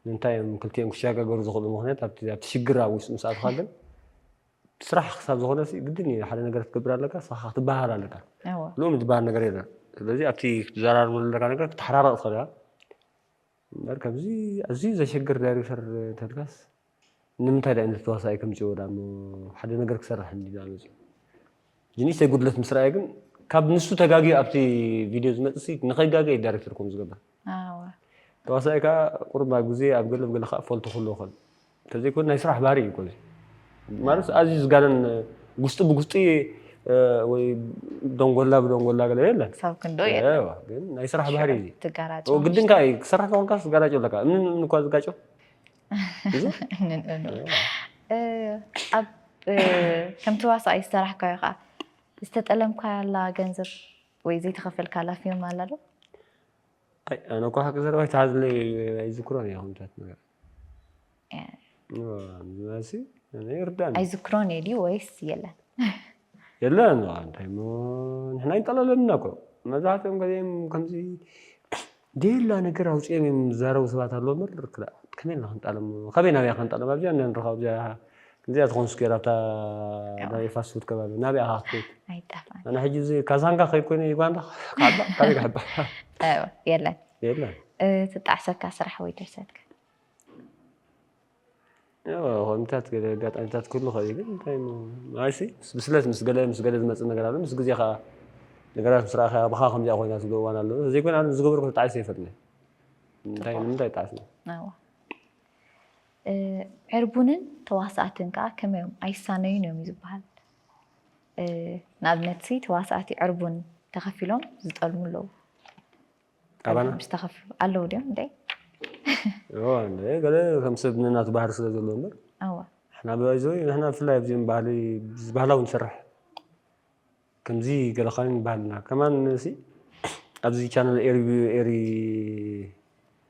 Speaker 2: ንምንታይ እዮም ክልቲኦም ክሸጋገሩ ዝኽእሉ ምክንያት ኣብቲ ሽግር ኣብ ውሽጢ ምስ ኣትኻ ግን ስራሕ ክሳብ ዝኾነ ግድን እዩ ሓደ ነገር ክትገብር ኣለካ ስኻ ክትበሃል ኣለካ ልኡም ዝበሃል ነገር የለን ስለዚ ኣብቲ ክትዘራርበሉ ኣለካ ነገር ክትሓራረቕ ትኽእል እያ እምበር ከምዚ ኣዝዩ ዘሸግር ዳይሬክተር ተድካስ ንምንታይ ዳኣ ነቲ ተዋሳኣይ ከምጽዎ ዳኣ እሞ ሓደ ነገር ክሰርሕ እንዲ ዳኣ መጽዩ ጅንሽተይ ጉድለት ምስ ረኣየ ግን ካብ ንሱ ተጋግዩ ኣብቲ ቪድዮ ዝመጽእ ሲ ንኸይጋገ እዩ ዳይሬክተር ከምኡ ዝገብር ተዋሳኣይ ከኣ ቁሩብ ኣብ ግዜ ኣብ ገለ ኣብ ገለ ከኣ ፈልቶ ክህልዎ ይኽእል ተዘይኮይኑ ናይ ስራሕ ባህሪ እዩ እኮ እዚ ማለት ኣዝዩ ዝጋነን ጉስጢ ብጉስጢ ወይ ደንጎላ ብደንጎላ ገለ የለን ክሳብ ክንዶ የለን
Speaker 1: ግን ናይ ስራሕ
Speaker 2: ባህሪ እዩ ትጋራጮ ግድን ከዓ
Speaker 1: እዩ ክሰራሕ
Speaker 2: ከኾንካ ትጋራጮ ኣለካ እምን እምን እኳ ዝጋጮ
Speaker 1: ኣብ ከምቲ ዋሳኣይ ዝተራሕካዮ ከዓ ዝተጠለምካላ ገንዘብ ወይ ዘይተኸፈልካላ ፊልም ኣላ ዶ
Speaker 2: ኣነ እኳ ሓቂ ዘረባ ይተሓዝለይ ኣይዝክሮን እያ ከምታት ነገራት ኣይዝክሮን እየ ድዩ
Speaker 1: ወይስ የለን
Speaker 2: የለን እንታይ እሞ ንሕና ይንጠላለልና እኮ መብዛሕትኦም ገዜም ከምዚ ደላ ነገር ኣውፅኦም እዮም ዝዛረቡ ሰባት ኣለዎ እምበር ከመይ ኢልና ክንጣሎም ከመይ ናብያ ክንጣሎም ኣብዚያ ንረኸ ኣብዚያ እዚኣ ትኾን ስኩር ኣብታ ናይ ፋስት ፉድ ከባቢ ናብያ ካ ክትከይድ ኣነ
Speaker 1: ሕጂ እዚ ካዛንጋ
Speaker 2: ከይኮይነ ዩጋንዳ ካበይ ክሕባ
Speaker 1: የለን የለን ዝጣዕሰካ ስራሕ ወይ ድርሰት ከ?
Speaker 2: ያው ኣጋጣሚታት ገለ ኣጋጣሚታት ክህሉ ይኽእል እዩ ግን እንታይ እሞ ንዓይሲ ምስ ብስለት ምስ ገለ ምስ ገለ ዝመጽእ ነገር ኣሎ ምስ ግዜ ከኣ ነገራት ምስ ረኣኻያ ብኻ ከምዚኣ ኮይና ዝብሎ እዋን ኣሎ ዘይኮነ ኣነ ዝገበርኩ ተጣዒሰ ኣይፈልጥን እየ እንታይ ንምንታይ ይጣዕስ እየ ናዋ እ፣
Speaker 1: ዕርቡንን ተዋሳእትን ከኣ ከመይ እዮም ኣይሳነዩን እዮም እዩ ዝበሃል እ፣ ንኣብነት ሲ ተዋሳእቲ ዕርቡን ተኸፊሎም ዝጠልሙ ኣለዉ
Speaker 2: ኣባና ምስ ተኸፍሉ
Speaker 1: ኣለዉ ድዮም እንታይ እዋ
Speaker 2: እንደ ገለ ከም ሰብ ንናቱ ባህሪ ስለ ዘለዎ እምበር ኣዋ ንሕና ብኣይዞ ንሕና ብፍላይ ኣብዚኦም ባህሊ ባህላዊ ንሰርሕ ከምዚ ገለ ኻን ይበሃልና ከማን ሲ ኣብዚ ቻነል ኤሪ ኤሪ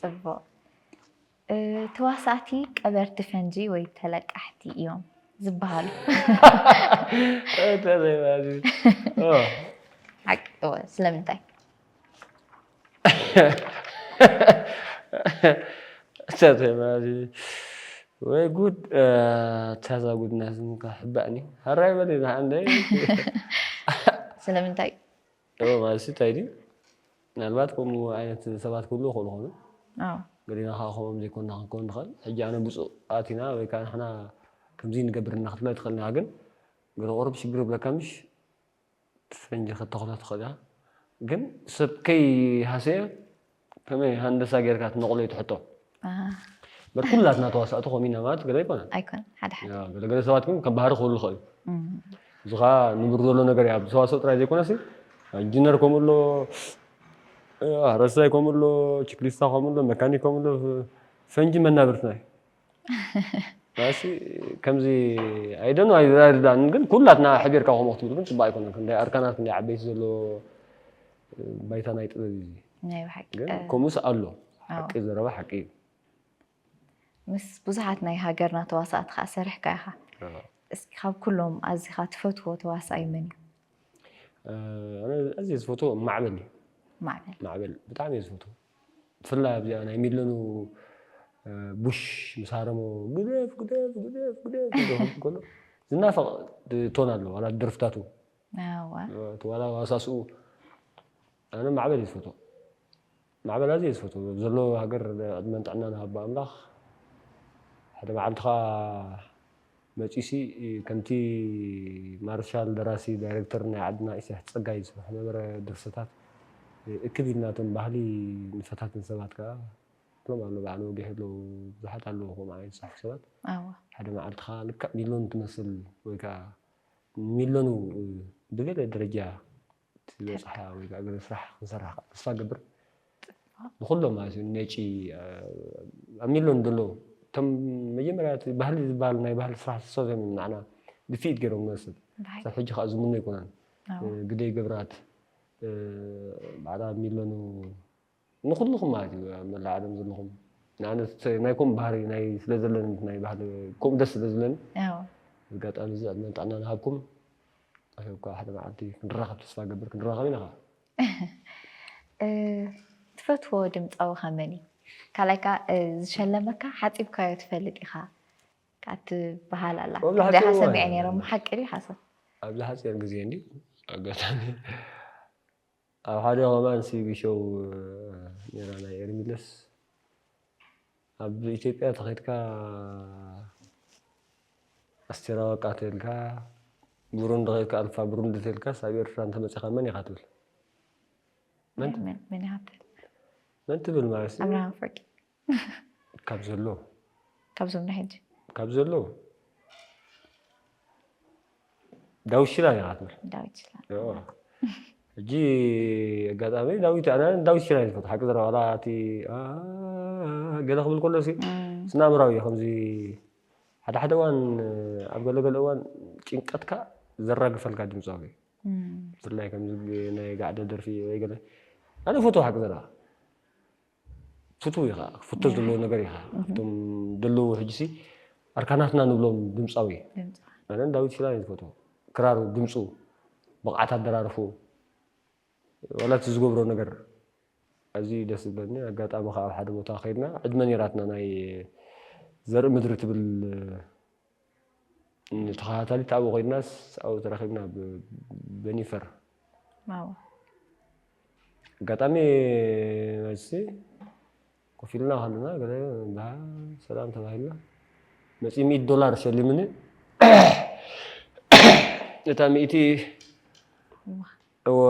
Speaker 2: ፅቡቕ
Speaker 1: ተዋሳእቲ ቀበርቲ ፈንጂ ወይ ተለቃሕቲ እዮም ዝበሃሉ ስለምንታይ?
Speaker 2: ወይ ጉድ ታዛ ጉድና ዝምካ ሕባእኒ ሃራይ በሊ ንሓንደይ
Speaker 1: ስለምንታይ? እወ ማለትሲ
Speaker 2: እንታይ ድዩ ምናልባት ከምኡ ዓይነት ሰባት ክህልዉ ይኽእሉ ይኾኑ። ኣዎ። ገሊና ከኣ ከምኦም ዘይኮንና ክንከውን ንኽእል። ሕጂ ኣነ ብጹኣት ኢና ወይ ከኣ ንሕና ከምዚ ንገብር እና ክትብላ ኣይትኽእልን ኢኻ። ግን ገለ ቁሩብ ሽግር ክብለካ ምሽ እቲ ፈንጂ ከተኽሎ ትኽእል ኢኻ። ግን ሰብ ከይሃሰየ ከመይ ሃንደሳ ጌርካ ትነቕሎ እዩ እቲ ሕቶ። በር ኩላትና ተዋሳእቲ ከምኡ ኢና ማለት ገለ ኣይኮነን። ኣይኮነን ሓደ ሓደ። ያው
Speaker 1: ገለ ገለ ሰባት ግን ከም
Speaker 2: ባህሪ ክህሉ ይኽእል እዩ። እዚ ከኣ ንቡር ዘሎ ነገር እዩ። ኣብ ሰዋስው ጥራይ ዘይኮነሲ ኢንጂነር ከምኡ ኣሎ፣ ሓረስታይ ከምኡ ኣሎ፣ ችክሊስታ ከምኡ ኣሎ፣ መካኒክ ከምኡ ኣሎ፣ ፈንጂ መናብርትና እዩ። ናሲ ከምዚ ኣይደን ኣይርዳን ግን ኩላትና ሕቢርካ ከምኡ ክትብሉ ግን ጽባቅ ኣይኮነን ክንደይ ኣርካናት ክንደይ ዓበይቲ ዘሎ ባይታ ናይ ጥበብ እዩ ናይ ብሓቂ
Speaker 1: ግን ከምኡስ ኣሎ
Speaker 2: ሓቂ ዘረባ ሓቂ እዩ
Speaker 1: ምስ ብዙሓት ናይ ሃገርና ተዋሳእቲ ከዓ ሰሪሕካ ኢኻ እስኪ ካብ ኩሎም ኣዚኻ ትፈትዎ ተዋሳኣይ መን እዩ
Speaker 2: ኣነ ኣዝየ ዝፈትዎ ማዕበል እዩ ማዕበል ማዕበል ብጣዕሚ እየ ዝፈትዎ ብፍላይ ኣብዚኣ ናይ ሚለኑ ቡሽ ምስ ሃረሞ ግደፍ ግደፍ ግደፍ ግደፍ ዝብል ከሎ ዝናፈቕ ቶን ኣሎ ዋላ ደርፍታቱ ዋላ ዋሳስኡ ኣነ ማዕበል እዩ ዝፈትዎ ማዕበል ኣዝየ ዝፈትዎ ዘሎ ሃገር ዕድመን ጥዕናን ሃባ ኣምላኽ ሓደ መዓልቲ ከዓ መጺሲ ከምቲ ማርሻል ደራሲ ዳይረክተር ናይ ዓድና ኢሳያስ ጸጋይ ዝስርሖ ነበረ ድርሰታት እክብ ኢልና እቶም ባህሊ ንፈታትን ሰባት ከኣ ክሎም ኣሎ በዓል ወጊሕ ኣሎ ብዙሓት ኣለዉ ከምኡ ዓይነት ዝጽሕፉ ሰባት ሓደ መዓልቲ ከኣ ልክዕ ሚሎን ትመስል ወይ ከኣ ሚሎኑ ብገለ ደረጃ እቲ ዝበፅሓ ወይ ከዓ ገለ ስራሕ ክንሰርሕ ከዓ ተስፋ እገብር ንኩሎም ማለት እዩ ነጪ ኣብ ሚሎን ዘሎ እቶም መጀመርያ እቲ ባህሊ ዝበሃል ናይ ባህሊ ስራሕ ዝሰብ እዮም ናዕና ድፍኢት ገይሮም ንወስድ ክሳብ ሕጂ ከዓ ዝምኖ ኣይኮነን ግደይ ገብራት በዓል ኣብ ሚሎኑ ንኩሉኩም ማለት እዩ ኣብ መላእ ዓለም ዘለኩም ንኣነ ናይ ኮም ባህሪ ናይ ስለ ዘለኒ ናይ ባህሊ ኮም ደስ ስለ ዝብለኒ ኣጋጣሚ እዚ ዕድመን ጥዕናን ሃብኩም ኣሸብካ ሓደ መዓልቲ ክንራኸብ ተስፋ ገብር ክንራኸብ ኢና
Speaker 1: ትፈትዎ ድምፃዊ ከመን እዩ ካልኣይ ከዓ ዝሸለመካ ሓፂብካዮ ትፈልጥ ኢኻ ከዓ ትበሃል ኣላ ደሓ ሰሚዐ ነይረ ሓቂ ድዩ ሓሶት ኣብዚ ሓፂር
Speaker 2: ግዜ እንዲ ኣጋጣሚ ኣብ ሓደ ከማን ሲቢ ሾው ነይራ ናይ ኤርሚለስ ኣብ ኢትዮጵያ ተኸድካ ኣስቴር ኣወቃ ተልካ ብሩንዲ ከድካ ኣልፋ ብሩንዲ ተልካስ ኣብ ኤርትራ እንተመጺኻ መን ኢኻ ትብል
Speaker 1: መን
Speaker 2: ትብል ማለት ኣብርሃም ፍርቂ
Speaker 1: ካብ
Speaker 2: ዘሎ ካብዞም
Speaker 1: ናይ ሕጂ ካብ ዘሎ
Speaker 2: ዳዊት ሽላ ኢና ክትብል ዳዊት
Speaker 1: ሽላ ሕጂ
Speaker 2: ኣጋጣሚ ዳዊት ኣና ዳዊት ሽላ ይፈት ሓቂ ዘረ ዋላ እቲ ገለ ክብል ከሎ ሲ ስናምራዊ እዩ ከምዚ ሓደ ሓደ እዋን ኣብ ገለ ገለ እዋን ጭንቀትካ ዘራግፈልካ ድምፃዊ ብፍላይ ከምዚ ናይ ጋዕደ ደርፊ ወይ ገለ ኣነ ፈትዎ ሓቂ ዘረባ ፍትው ኢኻ ክፍቶ ዘለዎ ነገር ኢኻ ካብቶም ደለዉ ሕጅሲ ኣርካናትና ንብሎም ድምጻዊ ኣነ ዳዊት ሽላ እየ ዝፈትዎ ክራሩ ድምፁ ብቕዓት ኣደራርፉ ዋላ እቲ ዝገብሮ ነገር ኣዝዩ ደስ ዝብለኒ ኣጋጣሚ ከዓ ኣብ ሓደ ቦታ ከይድና ዕድመ ነይራትና ናይ ዘርኢ ምድሪ ትብል ተኸታታሊት ኣብኡ ኮይናስ ኣብኡ ተራኺብና ብ በኒፈር ዋው
Speaker 1: ኣጋጣሚ
Speaker 2: መልሲ ኮፍ ኢልና ከለና ገለ እንዳ ሰላም ተባሂልና መፂ ሚእቲ ዶላር ሸሊሙኒ እታ ሚእቲ እዋ እወ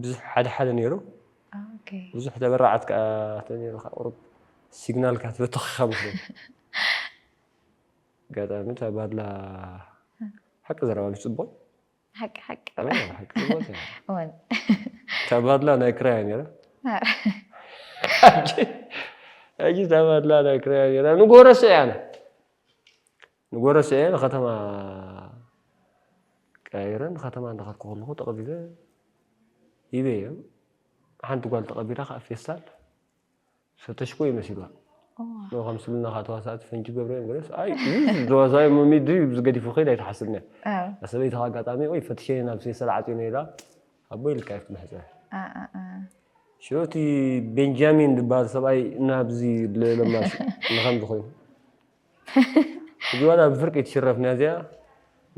Speaker 2: ብዙሕ ሓደ ሓደ ነይሩ
Speaker 1: ብዙሕ ተበራዓት
Speaker 2: ከኣ ተነይሩ ከኣ ቁሩብ ሲግናል ከኣ ተበቶኺኻ መስለኒ ኣጋጣሚ እታ ባድላ ሓቂ ዘረባ ምስ ጽቡቕ ሓቂ ሓቂ ሓቂ
Speaker 1: ጽቡቕ እታ
Speaker 2: ባድላ ናይ ክራያ ነይራ ሕጂ እታ ባድላ ናይ ክራያ ነይራ ንጎረሶ እያ ኣነ ንጎረስኤ ንከተማ ቀያይረ ንከተማ እንዳኸድኩ ከለኹ ተቐቢበ ይቤየም ሓንቲ ጓል ተቐቢላ ከዓ ፌስታል ፈተሽኮ እዩ መሲሏ ን ከምስልና ከዓ ተዋሳእቲ ፈንጂ ገብረዮም ገለስ ኣይ ተዋሳኢ መሚድ ብዚ ገዲፉ ከይድ ኣይትሓስብነ ሰበይቲ ከዓ ኣጋጣሚ ወይ ፈትሸኒ ናብ ፌስታል ዓፅዩ ነይራ ኣቦይ ኢልካ እዩ ክምሕፀ ሽዑ እቲ ቤንጃሚን ዝበሃል ሰብኣይ ናብዚ ለማሽ ንከምዚ ኮይኑ ሕጂ ዋላ ብፍርቂ ትሽረፍ ናዚኣ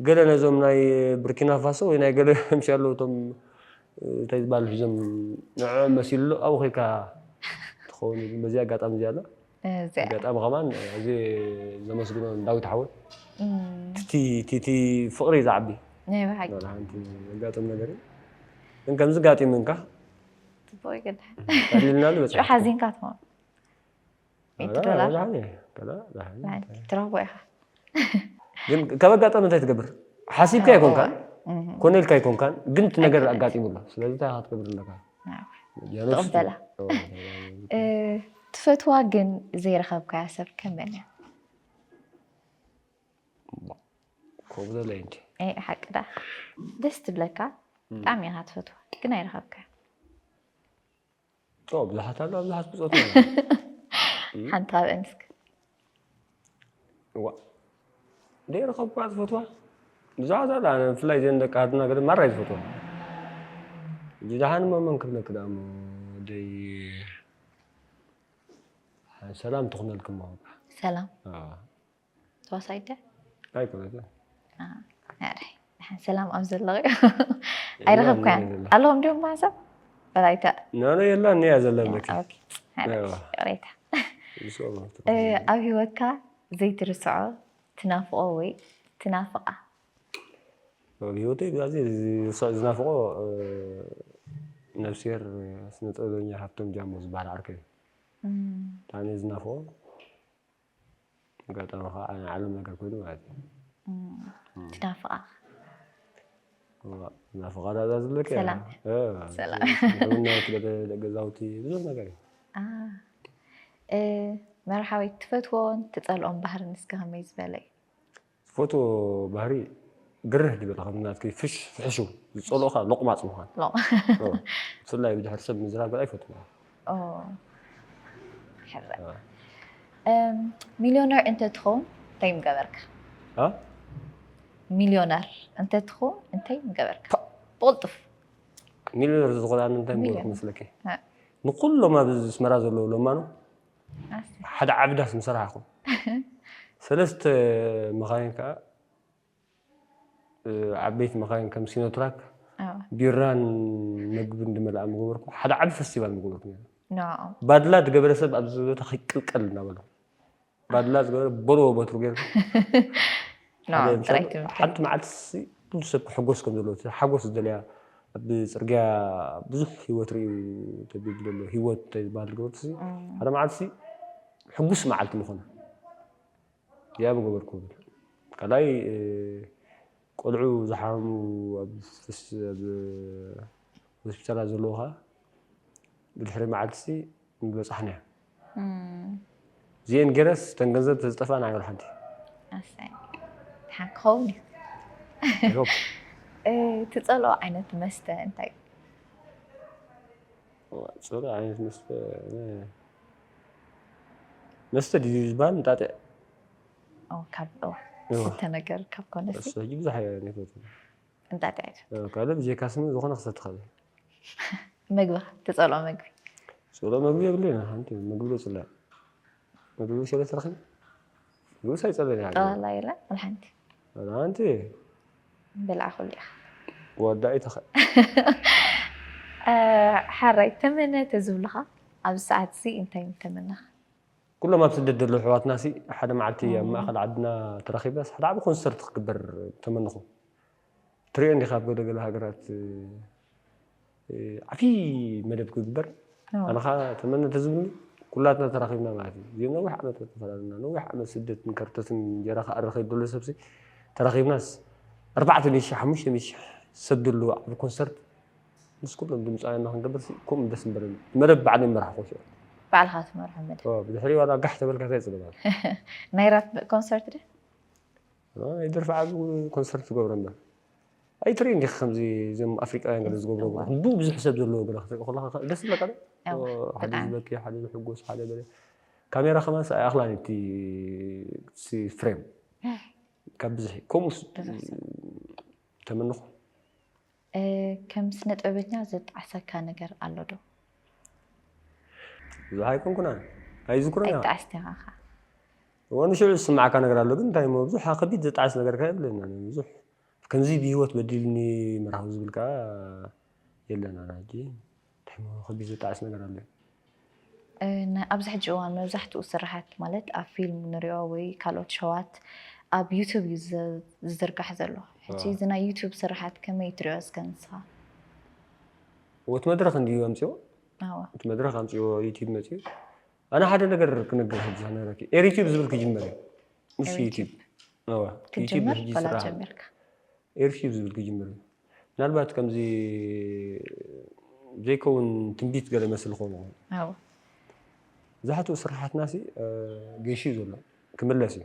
Speaker 2: ገለ ነዞም ናይ ብርኪናፋሶ ወይ ናይ ገለ ምሽ ኣለዉ እቶም እንታይ ዝበሃሉ ሒዞም ንዕዖም መሲሉ ኣሎ ኣብኡ ከይድካ ትኸውን ግን በዚ ኣጋጣሚ እዚኣ ኣላ ኣጋጣሚ ከማን እዚ ዘመስግኖ ዳዊት ሓወይ ቲቲ ፍቕሪ እዩ ዝዓቢ ናይ ብሓቂ ሓንቲ
Speaker 1: ዘጋጥም
Speaker 2: ነገር እዩ ግን ከምዚ ጋጢምንካ ጽቡቕ
Speaker 1: ይገድሕ ታሊልናሉ በጽ
Speaker 2: ሓዚንካ ትኾን
Speaker 1: ሚእቲ ኣላ ዶላር ደሓን እየ
Speaker 2: ገና ደሓን እየ። ናይ ትረኽቦ
Speaker 1: ኢኻ
Speaker 2: ግን ካብ ኣጋጣሚ እንታይ ትገብር ሓሲብካ እዎ፣ ኣይኮንካን እህ፣ ኮነ ኢልካ ኣይኮንካን ግን እቲ ነገር ኣይኮነን። ኣጋጢሙ ኣሎ ስለዚ እንታይ ኢኻ ክትገብር ኣለካ ናይ ወይ። ያ ነብሱ
Speaker 1: ትቕበላ። ትብል። ኦ፣ እ፣ ትፈትዋ ግን ዘይረኸብካያ ሰብ ከ መን እያ
Speaker 2: ኮብለለይ እንጂ ኤ፣ ሓቂ
Speaker 1: ደኣ ደስ ትብለካ ብጣዕሚ ኢኻ ትፈትዋ ግን ኣይረኸብካያ
Speaker 2: ብዙሓት ኣሎ ብዙሓት ብፆት
Speaker 1: ሓንቲ ኣብአን እስኪ እዋ
Speaker 2: ደይረኸብኳ ዝፈትዋ ብዙሓት ኣላ ብፍላይ ዘን ደቂ ሃድና ገደ ማራይ ዝፈትዋ ጅዳሓን መመን ክብለክ ዳኣ እሞ ደይ ሰላም ትኹነልክሞ ሰላም
Speaker 1: ተዋሳይት ድያ
Speaker 2: ኣይኮነትን ኣረይ ድሓን
Speaker 1: ሰላም ኣብ ዘለኺ ኣይረኸብካያን የላን የላን። ኣለኹም ድዮም ማሕሰብ ወላይታ ናኖ የላን
Speaker 2: እያ ዘላ በኪ ኦኬ፣ ሓረግ፣ ኣዋ።
Speaker 1: ይቕሬታ ምስኦም ኣብ እ፣ ተኸታተል። ኣብ ሂወትካ ዘይትርስዖ ትናፍቆ ወይ ትናፍቃ
Speaker 2: ኣብ ህይወተይ ብዛዕዚ ዝርሳዕ ዝናፍቆ እ፣ ነብስሄር ስነ ጥበበኛ ሃብቶም ጃሞ ዝበሃል ዓርከይ እዩ እም፣ ብጣዕሚ እየ ዝናፍቆ ኣጋጣሚ ከዓ ናይ ዓለም ነገር ኮይኑ ማለት እዩ
Speaker 1: ትናፍቃ
Speaker 2: ናፍቃ ዳዛ ዝለከ
Speaker 1: ሰላም። ሰላም።
Speaker 2: ምናት ገዛውቲ ብዙሕ ነገር እዩ አ፣ እ፣
Speaker 1: መርሓዊት ትፈትዎን ትፀልኦም ባህርን እስከ ከመይ ዝበለ እዩ ዝፈትዎ
Speaker 2: ባህሪ ግርህ ድብል ከም ናትኪ ፍሽ ፍሕሹ ዝጸልኦ ከኣ ሎቕማጽ ምዃን ሎ
Speaker 1: ብፍላይ
Speaker 2: ብድሕሪ ሰብ ምዝራብ ኣይፈትዎ ሚልዮነር እንተትኸውን
Speaker 1: እንታይ ምገበርካ ሚልዮነር እንተትኸውን እንታይ ምገበርካ ብቕልጡፍ ሚልዮነር
Speaker 2: ዝኾነ እንታይ ምገበርኩ መስለኪ ንኩሎም ኣብ ኣስመራ ዘለዉ ለማኑ ሓደ ዓቢ ዳስ ምስ ረኣኹም ሰለስተ መኻይን ከኣ ዓበይቲ መኻይን ከም ሲኖትራክ ቢራን መግብን ድመልኣ ምገበርኩ ሓደ ዓቢ ፈስቲቫል ምገበርኩ ነይሩ
Speaker 1: ባድላ ዝገበረ ሰብ
Speaker 2: ኣብዚ ቦታ ከይቅልቀል እናበሉ ባድላ ዝገበረ በልዎ በትሩ ገይሩ
Speaker 1: ሓደ ሰብ ሓንቲ
Speaker 2: መዓልቲ ኩሉ ሰብ ክሕጎስ ከም ዘለዎ እቲ ሓጎስ ዝደልያ ኣብ ጽርግያ ብዙሕ ሂወት ርእዩ ተብሊ ዘሎ ሂወት እንታይ ዝበሃል ዝገበርኩሲ ሓደ መዓልቲ ሕጉስ መዓልቲ ምኾነ እዚኣ ምገበርኩ ብል ካልኣይ ቆልዑ ዝሓሙ ኣብ ሆስፒታላት ዘለዉ ከኣ ብድሕሪ መዓልቲሲ ምበጻሕናዮ እዚኤን ገረስ እተን ገንዘብ ተዝጠፍኣን ኣይ ወላሓንቲ
Speaker 1: ኣሰይ ድሓን ክኸውን እዩ I hope ትጸልኦ ዓይነት መስተ እንታይ
Speaker 2: ጽሩ ዓይነት መስተ መስተ ድዩ ዝበሃል እንጣጢዕ
Speaker 1: ካብ ስተ ነገር ካብ ኮነ ብዙሕ እንታት እያ
Speaker 2: እዚኣ? እ፣ ካልእ ብጀካ ስሚ ዝኾነ ክሰቲ እኽእል እየ።
Speaker 1: ምግብኻ ትጸልኦ ምግቢ? ጽልኦ ምግቢ
Speaker 2: የብለይን ሓንቲ ምግቢ ዶ ጽላእ ምግቢ ብሰለ ትረኺብ ምግብስ ኣይጸልእን እየ ዓገበይ ጠቕላላ የለን ወላ ሓንቲ
Speaker 1: ዋላ ሓንቲ ብልዓ ኩሉ ኢኻ። ወዳኢ
Speaker 2: ተኸእ እ፣
Speaker 1: ሓራይ ተመነ ተዝብሉኻ ኣብዚ ሰዓት እዚ እንታይ ምተመነኻ? ኩሎም ኣብ
Speaker 2: ስደት ዘለዉ ኣሕዋትናሲ ሓደ መዓልቲ ኣብ ማእከል ዓድና ተራኺበስ ሓደ ዓቢ ኮንሰርት ክግበር ተመነኹ። ትሪኦ እንዲኻ ኣብ ገለ ገለ ሃገራት ዓቢ መደብ ክግበር ኣነ ከኣ ተመነ ተዝብልኒ ኩላትና ተራኺብና ማለት እዩ። እዚኦም ነዊሕ ዓመት ተፈላለና ነዊሕ ዓመት ስደትን ከርተትን እንጀራ ክኣሪ ከይዱ ዘሎ ሰብሲ ተራኺብናስ ኣርባዕተ ሚእቲ ሽሕ ሓሙሽተ ሚእቲ ሽሕ ሰብ ዘለዎ ዓቢ ኮንሰርት ምስ ኩሎም ድምፃውያን ንክንገብር ሲ ከምኡ ደስ ምበለኒ መደብ ባዕለይ ምራሕ ኮሽ ባዕልካ ትመርሖ
Speaker 1: መደብ ኦ፣ ብድሕሪ ዋላ ጋሕ ተበልካ
Speaker 2: እንታይ ፅገማል ናይ ራፕ
Speaker 1: ኮንሰርት ድ ይደርፊ ዓብ
Speaker 2: ኮንሰርት ትገብሮ እምበር ኣይትርኢ እንዲኺ ከምዚ እዞም ኣፍሪቃውያን ገለ ዝገብሮ እዋእ። ክንዱ ብዙሕ ሰብ ዘለዎ ገለ ክትርኢ ከለካ ከ- ደስ ይብለካ ዶ? እወ፣ ኦ፣ ሓደ ብጣዕሚ። ዝበኪ ሓደ ዝሕጎስ ሓደ ገለ ካሜራ ከማን ሲ ኣይኣኽላን እቲ እቲ ፍሬም ካብ ብዝሒ ከምኡስ ብዙሕ ሰብ። ተመንኹ
Speaker 1: ከም ስነጥበበኛ ዘጣዕሰካ ነገር ኣሎ ዶ? ብዙሕ
Speaker 2: ኣይኮንኩን ኣነ ኣይዝክሮን እየ ኣይጣዕስ ዲኻ
Speaker 1: ከ? እዎ
Speaker 2: ንሽዑ ዝስምዓካ ነገር ኣሎ ግን እንታይ እሞ ብዙሕ ከቢድ ዘጣዕስ ነገር ከ የብለይን ኣነ ብዙሕ ከምዚ ብሂወት በዲልኒ ምርሃው ዝብል ከኣ የለን ኣነ ሕጂ እንታይ እሞ ከቢድ ዝጣዕስ ነገር ኣሎ እዩ?
Speaker 1: ኣብዚ ሕጂ እዋን መብዛሕትኡ ስርሓት ማለት ኣብ ፊልም ንሪኦ ወይ ካልኦት ሸዋት ኣብ ዩቱብ እዩ ዝዝርጋሕ ዘሎ። ሕጂ እዚ ናይ ዩቱብ ስርሓት ከመይ ትሪኦ እስከ ንስኻ? እቲ
Speaker 2: መድረኽ እንድዩ ኣምፂኦ እቲ መድረኽ ኣምፂኦ ዩቲብ መፂኡ ኣነ ሓደ ነገር ክንግር ሕጂ ክነግረኪ ኤሪቲብ ዝብል ክጅመር እዩ ምስ ዩቲብ ክጅመር በላ ጀሚርካ
Speaker 1: ኤሪቲብ ዝብል
Speaker 2: ክጅመር እዩ ምናልባት ከምዚ ዘይከውን ትንቢት ገለ ይመስል ክኸውን ይኽእል። ኣዎ። መብዛሕትኡ ስርሓትና ሲ ገይሹ እዩ ዘሎ ክምለስ እዩ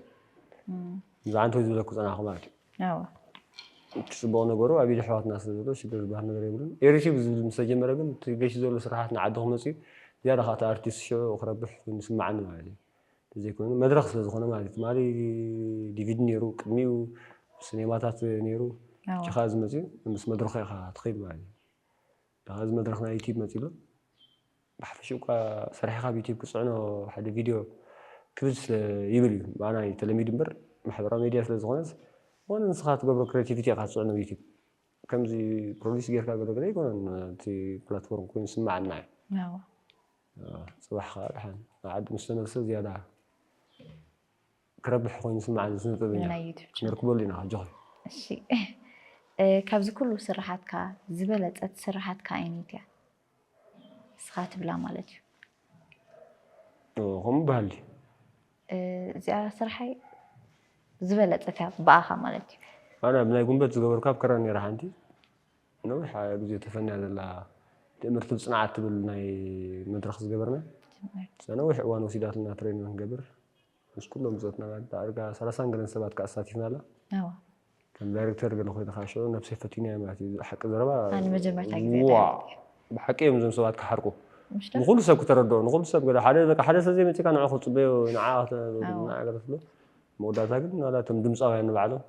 Speaker 2: ብዛዕባ እንተ ዝበለኩ ጸናሕኩ ማለት እዩ። ኣዎ። እቲ ጽቡቕ ነገሩ ኣብ ኢድ ኣሕዋትና ስለ ዘሎ ሽግር ዝበሃል ነገር የብሉን። ኤሪቲብ ዝብል ምስ ተጀመረ ግን እቲ ገይሹ ዘሎ ስርሓት ንዓዲ ክመጽእ እዩ ዝያዳ ከኣ እቲ ኣርቲስት ሽዑ ክረብሕ ኮይኑ ይስመዓኒ ማለት እዩ። እንተዘይኮይኑ መድረኽ ስለ ዝኾነ ማለት እዩ። ትማሊ ዲቪዲ ነይሩ፣ ቅድሚኡ ሲኔማታት ነይሩ፣ ሕጂ ከዓ እዚ መፂኡ ምስ መድረኹ ኢኻ ትኸይድ ማለት እዩ። ድሓ እዚ መድረኽ ናይ ዩቲዩብ መፂኡ ኣሎ። ብሓፈሽኡ እኳ ሰሪሕኻ ኣብ ዩቲዩብ ክትፅዕኖ ሓደ ቪድዮ ክብድ ስለ ይብል እዩ። ብኣና እዩ ተለሚዱ እምበር ማሕበራዊ ሚድያ ስለ ዝኾነስ ዝኾነ ንስኻ ትገብሮ ክሬቲቪቲ ኢኻ ትፅዕኖ ኣብ ዩቲዩብ። ከምዚ ፕሮዲስ ጌርካ ገለ ገለ ኣይኮነን እቲ ፕላትፎርም ኮይኑ ዝስመዓና እዩ። ጽባሕ ከኣ ድሓን ናብ ዓዱ ምስ ተመልሰ ዝያዳ ክረብሕ ኮይኑ ዝስምዓኒ ስነ ጥበበኛ ክንርክበሉ ኢና ኣጆኺ። እሺ
Speaker 1: ካብዚ ኩሉ ስርሓትካ ዝበለጸት ስርሓትካ ኣየነይቲ እያ ንስኻ ትብላ ማለት እዩ?
Speaker 2: ከምኡ በሃል ድዩ? እዚኣ
Speaker 1: ስርሓይ ዝበለጸት እያ ብኣኻ ማለት እዩ። ኣነ ኣብ ናይ ጉንበት
Speaker 2: ዝገበርኩ ኣብ ክራር ነይራ ሓንቲ ነዊሕ ግዜ ተፈንያ ዘላ ትእምርቲ ብጽንዓት ትብል ናይ መድረኽ ዝገበርና ናይ ነዊሕ እዋን ወሲዳትና ትሬን ንክንገብር ምስ ኩሎም ብጾትና ዳርጋ ሰላሳን ገለን ሰባት ከኣ ኣሳቲፍና ኣላ ከም ዳይሬክተር ገለ ኮይነ ከኣ ሽዑ ነብሰይ ፈቲናያ ማለት እዩ ሓቂ ዘረባ
Speaker 1: ዋእ ብሓቂ እዮም
Speaker 2: እዞም ሰባት ክሓርቁ ንኩሉ ሰብ ክተረድኦ ንኩሉ ሰብ ገለ ሓደ በቃ ሓደ ሰብ ዘይመጺካ ንዑ ክትጽበዮ ንዓ ንዓ ገለ ትብሎ መወዳእታ ግን ዋላ እቶም ድምጻውያን ንባዕሎም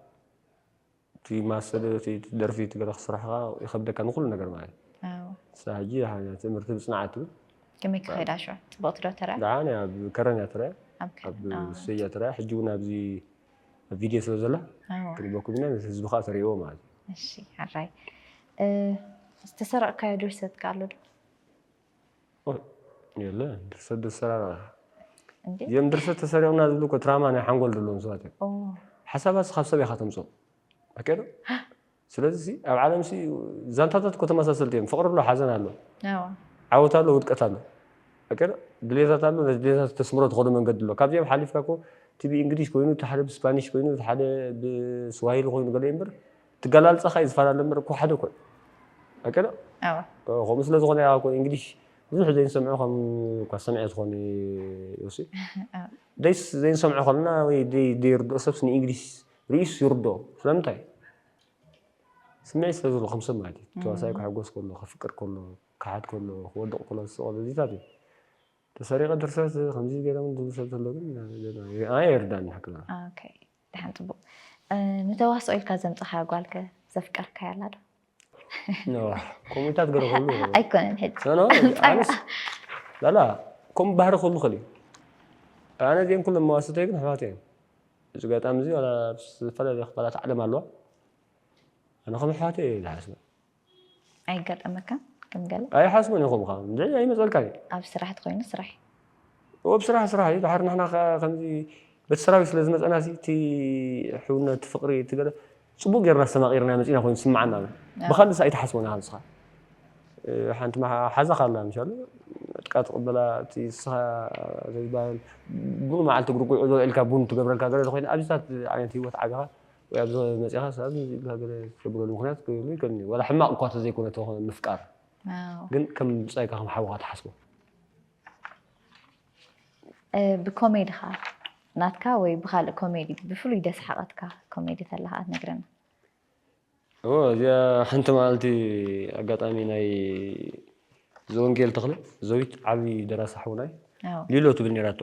Speaker 2: እቲ ማሰለ እቲ ደርፊ እቲ በረኽ ስራሕኻ ይኸብደካ ንኹሉ ነገር ማለት እዩ ንሳ ሕጂ ትእምርቲ ብጽንዓት እዩ ከመይ ክኸይዳ
Speaker 1: ሽዑ ጽብቕቲ ዶ ትርኣ ደሓን እያ ኣብ ከረን እያ
Speaker 2: ትርኣ ኣብ ሰይ እያ ትርኣ ሕጂ እውን ኣብዚ ኣብ ቪድዮ ስለ ዘላ ክንበኩም ኢና ነቲ ህዝቢ ከዓ ተርእዎ ማለት እዩ እሺ
Speaker 1: ሓራይ ዝተሰረቕካዮ ድርሰትካ ኣሎ ዶ
Speaker 2: የለ ድርሰት ድሰራራ እዚኦም ድርሰት ተሰሪቕና ዝብሉ እኮ ትራማ ናይ ሓንጎል ዘለዎም ሰባት እዮም ሓሳባት ካብ ሰብ ኢኻ ተምፅኦ ኣቀዶ ስለዚ ኣብ ዓለም ሲ ዛንታታት እኮ ተመሳሰልቲ እዮም ፍቕሪ ኣሎ ሓዘን ኣሎ ዓወት ኣሎ ውድቀት ኣሎ ኣቀዶ ድሌታት ኣሎ ነዚ ድሌታት ተስምሮ ትኸዶ መንገዲ ኣሎ ካብዚኦም ሓሊፍካ እኮ እቲ ብእንግሊሽ ኮይኑ እቲ ሓደ ብስፓኒሽ ኮይኑ እቲ ሓደ ብስዋሂሊ ኮይኑ ገለ እምበር ትገላልጸኻ እዩ ዝፈላለ እምበር እኮ ሓደ እኮ እዩ ኣቀዶ ከምኡ ስለ ዝኾነ ያ እኮ እንግሊሽ ብዙሕ ዘይንሰምዖ ከም እኳ ሰምዐ ዝኾነ ዮሲ ደይስ ዘይንሰምዖ ከለና ወይ ዘይርድኦ ሰብስ ንእንግሊሽ ርእዩስ ይርድኦ ስለምንታይ ስምዒት ስለ ዘሎ ከም ሰብ ማለት እዩ ተዋሳኢ ክሕጎስ ከሎ ክፍቅር ከሎ ክሓት ከሎ ክወድቕ ከሎ ዝስቕ ከሎ እዚታት እዩ ተሰሪቐ ድርሰት ከምዚ ገይሮም ዝብል ሰብ ዘሎ ግን ኣነ የርዳእኒ ሓቅና ደሓን
Speaker 1: ፅቡቅ ንተዋስኦ ኢልካ ዘምፀኻያ ጓልከ ዘፍቀርካያ ኣላ ዶ?
Speaker 2: ከምኡታት ገረ ክህሉ ኣይኮነን
Speaker 1: ሕጂ
Speaker 2: ላላ ከምኡ ባህሪ ክህሉ ክእል እዩ ኣነ እዚኦም ኩሎም መዋስተይ ግን ኣሕዋት እዮም እዚ ጋጣሚ እዚ ዝተፈላለዩ ክፋላት ዓለም ኣለዋ ኣነ ከም ኣሕዋት እየ ዝሓስበ
Speaker 1: ኣይጋጠመካን ከም ገለ? ኣይሓስቦን ኢኹም ኸኣ
Speaker 2: እንድዒ ኣይመጸልካን እዩ። ኣብ ስራሕ ተኾይኑ ስራሕ
Speaker 1: እዩ። እወ ብስራሕ
Speaker 2: ስራሕ እዩ ድሓር ንሕና ከኣ ከምዚ በቲ ሰራዊት ስለ ዝመጸናሲ እቲ ሕውነት እቲ ፍቕሪ እቲ ገለ ጽቡቕ ጌርና ኣስተማቒርናዮ መጺእና ኮይኑ ዝስምዓና ኣሎ። ብኻልእስ ኣይትሓስቦን ኢኻ ንስኻ ሓንቲ ሓዛኻ ኣላ ምሻሉ ዕጥቃ ትቕበላ እቲ ንስኻ ዘይባል ቡን መዓልቲ እግሪ ጉዕዞ ኢልካ ቡን ትገብረልካ ገለ ተኾይና ኣብዚታት ዓይነት ህይወት ዓቢኻ ወይ ኣብዚ ከባቢ መጺኻስ ኣብዚ ዝጋገለ ትገብረሉ ምኽንያት ክህሉ ይከኣልኒ ዋላ ሕማቕ እኳ ተዘይኮነ ተኾነ ምፍቃር ግን ከም ብጻይካ ከም ሓውኻ ትሓስቦ
Speaker 1: ብኮሜድኻ ናትካ ወይ ብካልእ ኮሜዲ ብፍሉይ ደስሓቐትካ ኮሜዲ ተላ ከኣ ትነግረና እዎ እዚኣ
Speaker 2: ሓንቲ መዓልቲ ኣጋጣሚ ናይ ዘወንጌል ተኽለ ዘዊት ዓብዪ ደራሲ ሓውናይ ሊሎ ትብል ነራቶ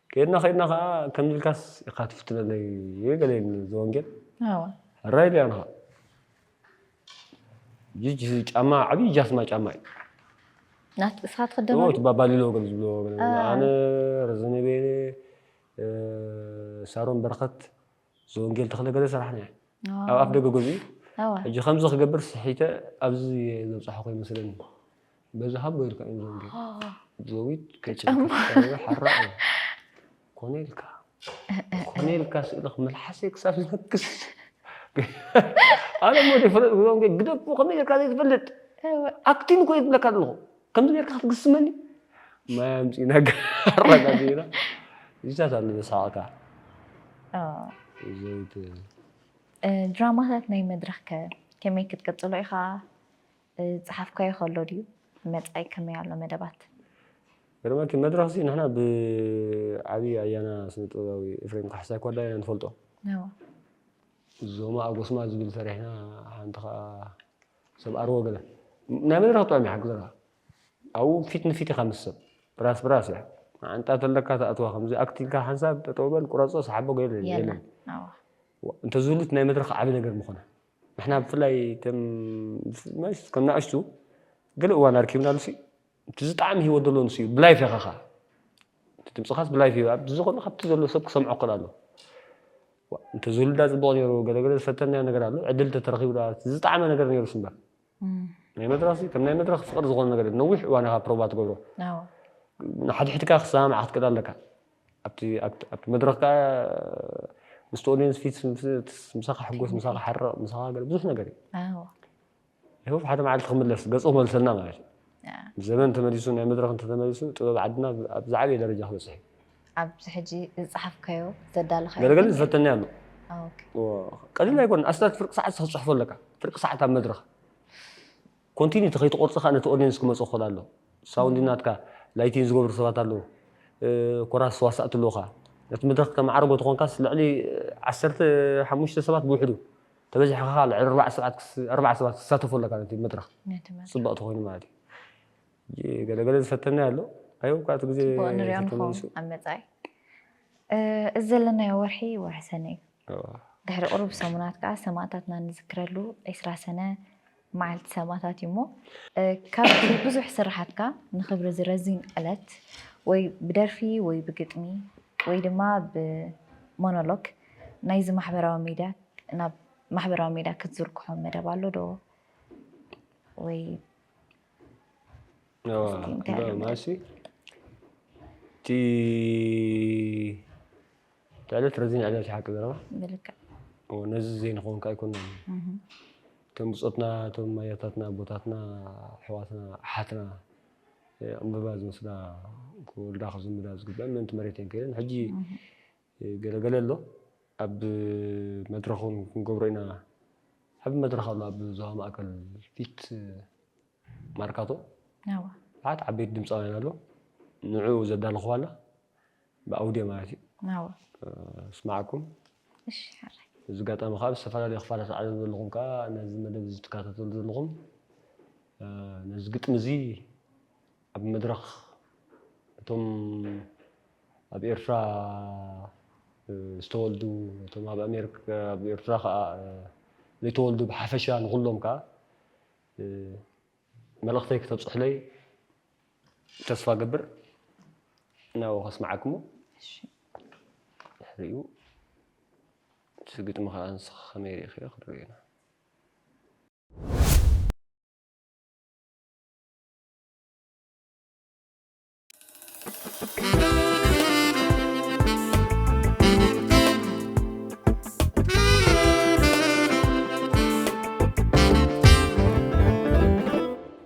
Speaker 2: ከይድና ከይድና ከኣ ከምዚ ኢልካስ ኢካ ትፍትነለይ ገለኒ ዘወንጌል ኣወ ሕራይ ኢለያ ንኻ ጅጅ ጫማ ዓብዪ ጃስማ ጫማ እዩ
Speaker 1: ናት እስኻ ትኽደኖ ድዩ? እቲ ባባሊሎ ገለ ዝብሎ
Speaker 2: ኣነ ረዘነ ቤነ ሳሮን በረኸት ዘወንጌል ተክለ ገለ ሰራሕና እያ ኣብ ኣፍ ደገ ገዝኡ ሕጂ ከምዚ ክገብር ስሒተ ኣብዚ ዘብፅሓ ኮይ መስለኒ በዚ ሃቦ ኢልካ እዮም ዘወንጌል ዘዊት ሓራ ኮነ ኢልካ ኮነ ኢልካ ስእልክ መልሓሰይ ክሳብ ዝነክስ ኣነ ሞ ዘይፈለጥ ዘወንጌል ግደፉ ከመይ ጌርካ ዘይትፈልጥ ኣክቲንግ ኮይ ዝብለካ ዘለኹ ከምዚ ጌርካ ክትግስመኒ ማይ ኣምፂእና ኣረጋ ዜና እዚታት ኣሎ ዘሳቅካ ዘይት
Speaker 1: ድራማታት ናይ መድረኽ ከ ከመይ ክትቅፅሎ ኢኻ ፀሓፍካዮ ከሎ ድዩ መፃኢ ከመይ ኣሎ መደባት ገርመኪ
Speaker 2: መድረኽ ሲ ንሕና ብዓብዪ ኣያና ስነ ጥበባዊ ኤፍሬም ካሕሳይ ኮዳ ኢና ንፈልጦ ዞማ ኣጎስማ ዝብል ሰሪሕና ሓንቲ ከዓ ሰብ ኣርዎ ገለ ናይ መን ረክጥዖም እያ ሓግዘካ ኣብኡ ፊት ንፊት ኢኻ ምስ ሰብ ራስ ብራስ እያ መዓንጣ ተለካ ተኣትዋ ከምዚ ኣክት ኢልካ ሓንሳብ ጠጠው በል ቁረፆ ሰሓቦ ገለ የለን የለን ኣዎ እንተዝህሉት ናይ መድረኽ ዓቢ ነገር ምኾነ ንሕና ብፍላይ ከም ከም ንኣሽቱ ገለ እዋን ኣርኪብናሉሲ እቲ ዝጣዕሚ ሂወት ዘሎ ንሱ እዩ ብላይፍ ኢኻ ኸኣ እቲ ድምጽኻስ ብላይፍ እዩ ኣብዚ ዝኾነ ካብቲ ዘሎ ሰብ ክሰምዖ ክኽእል ኣሎ ዋእ እንተዝህሉዳ ጽቡቕ ነይሩ ገለገለ ዝፈተናዮ ነገር ኣሎ ዕድል እንተተረኺቡዳ እቲ ዝጣዕመ ነገር ነይሩስ እምበር ናይ መድረኽሲ ከም ናይ መድረኽ ፍቕሪ ዝኾነ ነገር ነዊሕ እዋን ኢኻ ፕሮቫ ትገብሮ ንሓድሕድካ ክሰማምዓ ክትክእል ኣለካ ኣብቲ ኣብቲ መድረኽ ከኣ ምስቲ ኦድየንስ ፊት ምሳኻ ሕጎስ ምሳኻ ሓርቕ ምሳኻ ገለ ብዙሕ ነገር እዩ ይሆፕ ሓደ መዓልቲ ክምለስ ገጹ ክመልሰልና ማለት እዩ። ዘመን ተመሊሱ ናይ መድረኽ እንተተመሊሱ ጥበብ ዓድና ኣብ ዝዓበየ ደረጃ ክበጽሕ እዩ። ኣብዚ ሕጂ
Speaker 1: ዝጸሓፍካዮ ዘዳለኻዮ ገለ ገለ ዝፈተኒ ኣሎ። ቀሊል
Speaker 2: ኣይኮነን ኣስታት ፍርቂ ሰዓት ክትጽሕፎ ኣለካ ፍርቂ ሰዓት ኣብ መድረኽ ኮንቲኒቲ ከይትቆርጽ ከኣ ነቲ ኦድየንስ ክመጾ ክኽእል ኣለዎ ሳውንዲ ናትካ ላይቲን ዝገብሩ ሰባት ኣለዉ ኮራስ ተዋሳእቲ ኣለዉኻ ነቲ መድረኽ ከተመዓርጎ ተኾንካስ ልዕሊ ዓሰርተ ሓሙሽተ ሰባት ብውሕዱ ተበዚሕካ ከኣ ልዕሊ ኣርባዕተ ሰባት ክስ ኣርባዕተ ሰባት ክሳተፉ ኣለካ ነቲ መድረኽ ነቲ መድረኽ ጽብቕ ተኾይኑ ማለት እዩ። ሕጂ ገለ ገለ ዝፈተናዮ ኣሎ ኣይ እኳ እቲ ግዜ ጽቡቕ ንሪኦ ንኸውን ተተመሊሱ ኣብ
Speaker 1: መጻኢ እ እዚ ዘለናዮ ወርሒ ወርሒ ሰነ እዩ። እወ። ድሕሪ ቅሩብ ሰሙናት ከኣ ሰማእታትና ንዝክረሉ ዕስራ ሰነ መዓልቲ ሰማእታት እዩ እሞ ካብቲ ብዙሕ ስርሓትካ ንኽብሪ እዚ ረዚን ዕለት ወይ ብደርፊ ወይ ብግጥሚ ወይ ድማ ብሞኖሎግ ናይዚ ማሕበራዊ ሚድያ ናብ ማሕበራዊ ሚድያ ክትዝርግሖ መደብ ኣሎ ዶ ወይ
Speaker 2: ማሲ እቲ ትዕልት ረዚን ዕልል ሓቂ ዘረባ ብልክዕ
Speaker 1: እዎ ነዚ
Speaker 2: ዘይንኸውንካ ኣይኮናን እቶም ብፆትና እቶም ኣያታትና ኣቦታትና ኣሕዋትና ኣሓትና ዕምበባ ዝወስዳ ክወልዳ ክዝምዳ ዝግበአን ምእንቲ መሬት እየን ከይደን ሕጂ ገለገለ ኣሎ ኣብ መድረኽ እውን ክንገብሮ ኢና ዓብ መድረኽ ኣሎ ኣብ ዞባ ማእከል ፊት ማርካቶ
Speaker 1: ብዙሓት ዓበይቲ
Speaker 2: ድምፃውያን ኣሎ ንዕኡ ዘዳለኹዋ ኣላ ብኣውድዮ ማለት እዩ ናው
Speaker 1: ስማዓኩም።
Speaker 2: እሺ
Speaker 1: ሓራይ። በዚ ኣጋጣሚ ከኣ ኣብ
Speaker 2: ዝተፈላለዩ ክፋላት ዓለም ዘለኹም ከኣ ነዚ መደብ እዚ ትከታተሉ ዘለኹም ነዚ ግጥሚ እዚ ኣብ መድረኽ እቶም ኣብ ኤርትራ ዝተወልዱ እቶም ኣብ ኣሜሪካ ኣብ ኤርትራ ከኣ ዘይተወልዱ ብሓፈሻ ንኹሎም ከኣ መልእኽተይ ክተብጽሑለይ ተስፋ ገብር ናብኡ ከስምዓክሞ እሺ ድሕሪኡ እቲ ግጥሚ ከኣ ንስኺ ከመይ ሪኢኽዮ ክንሪኦ ኢና።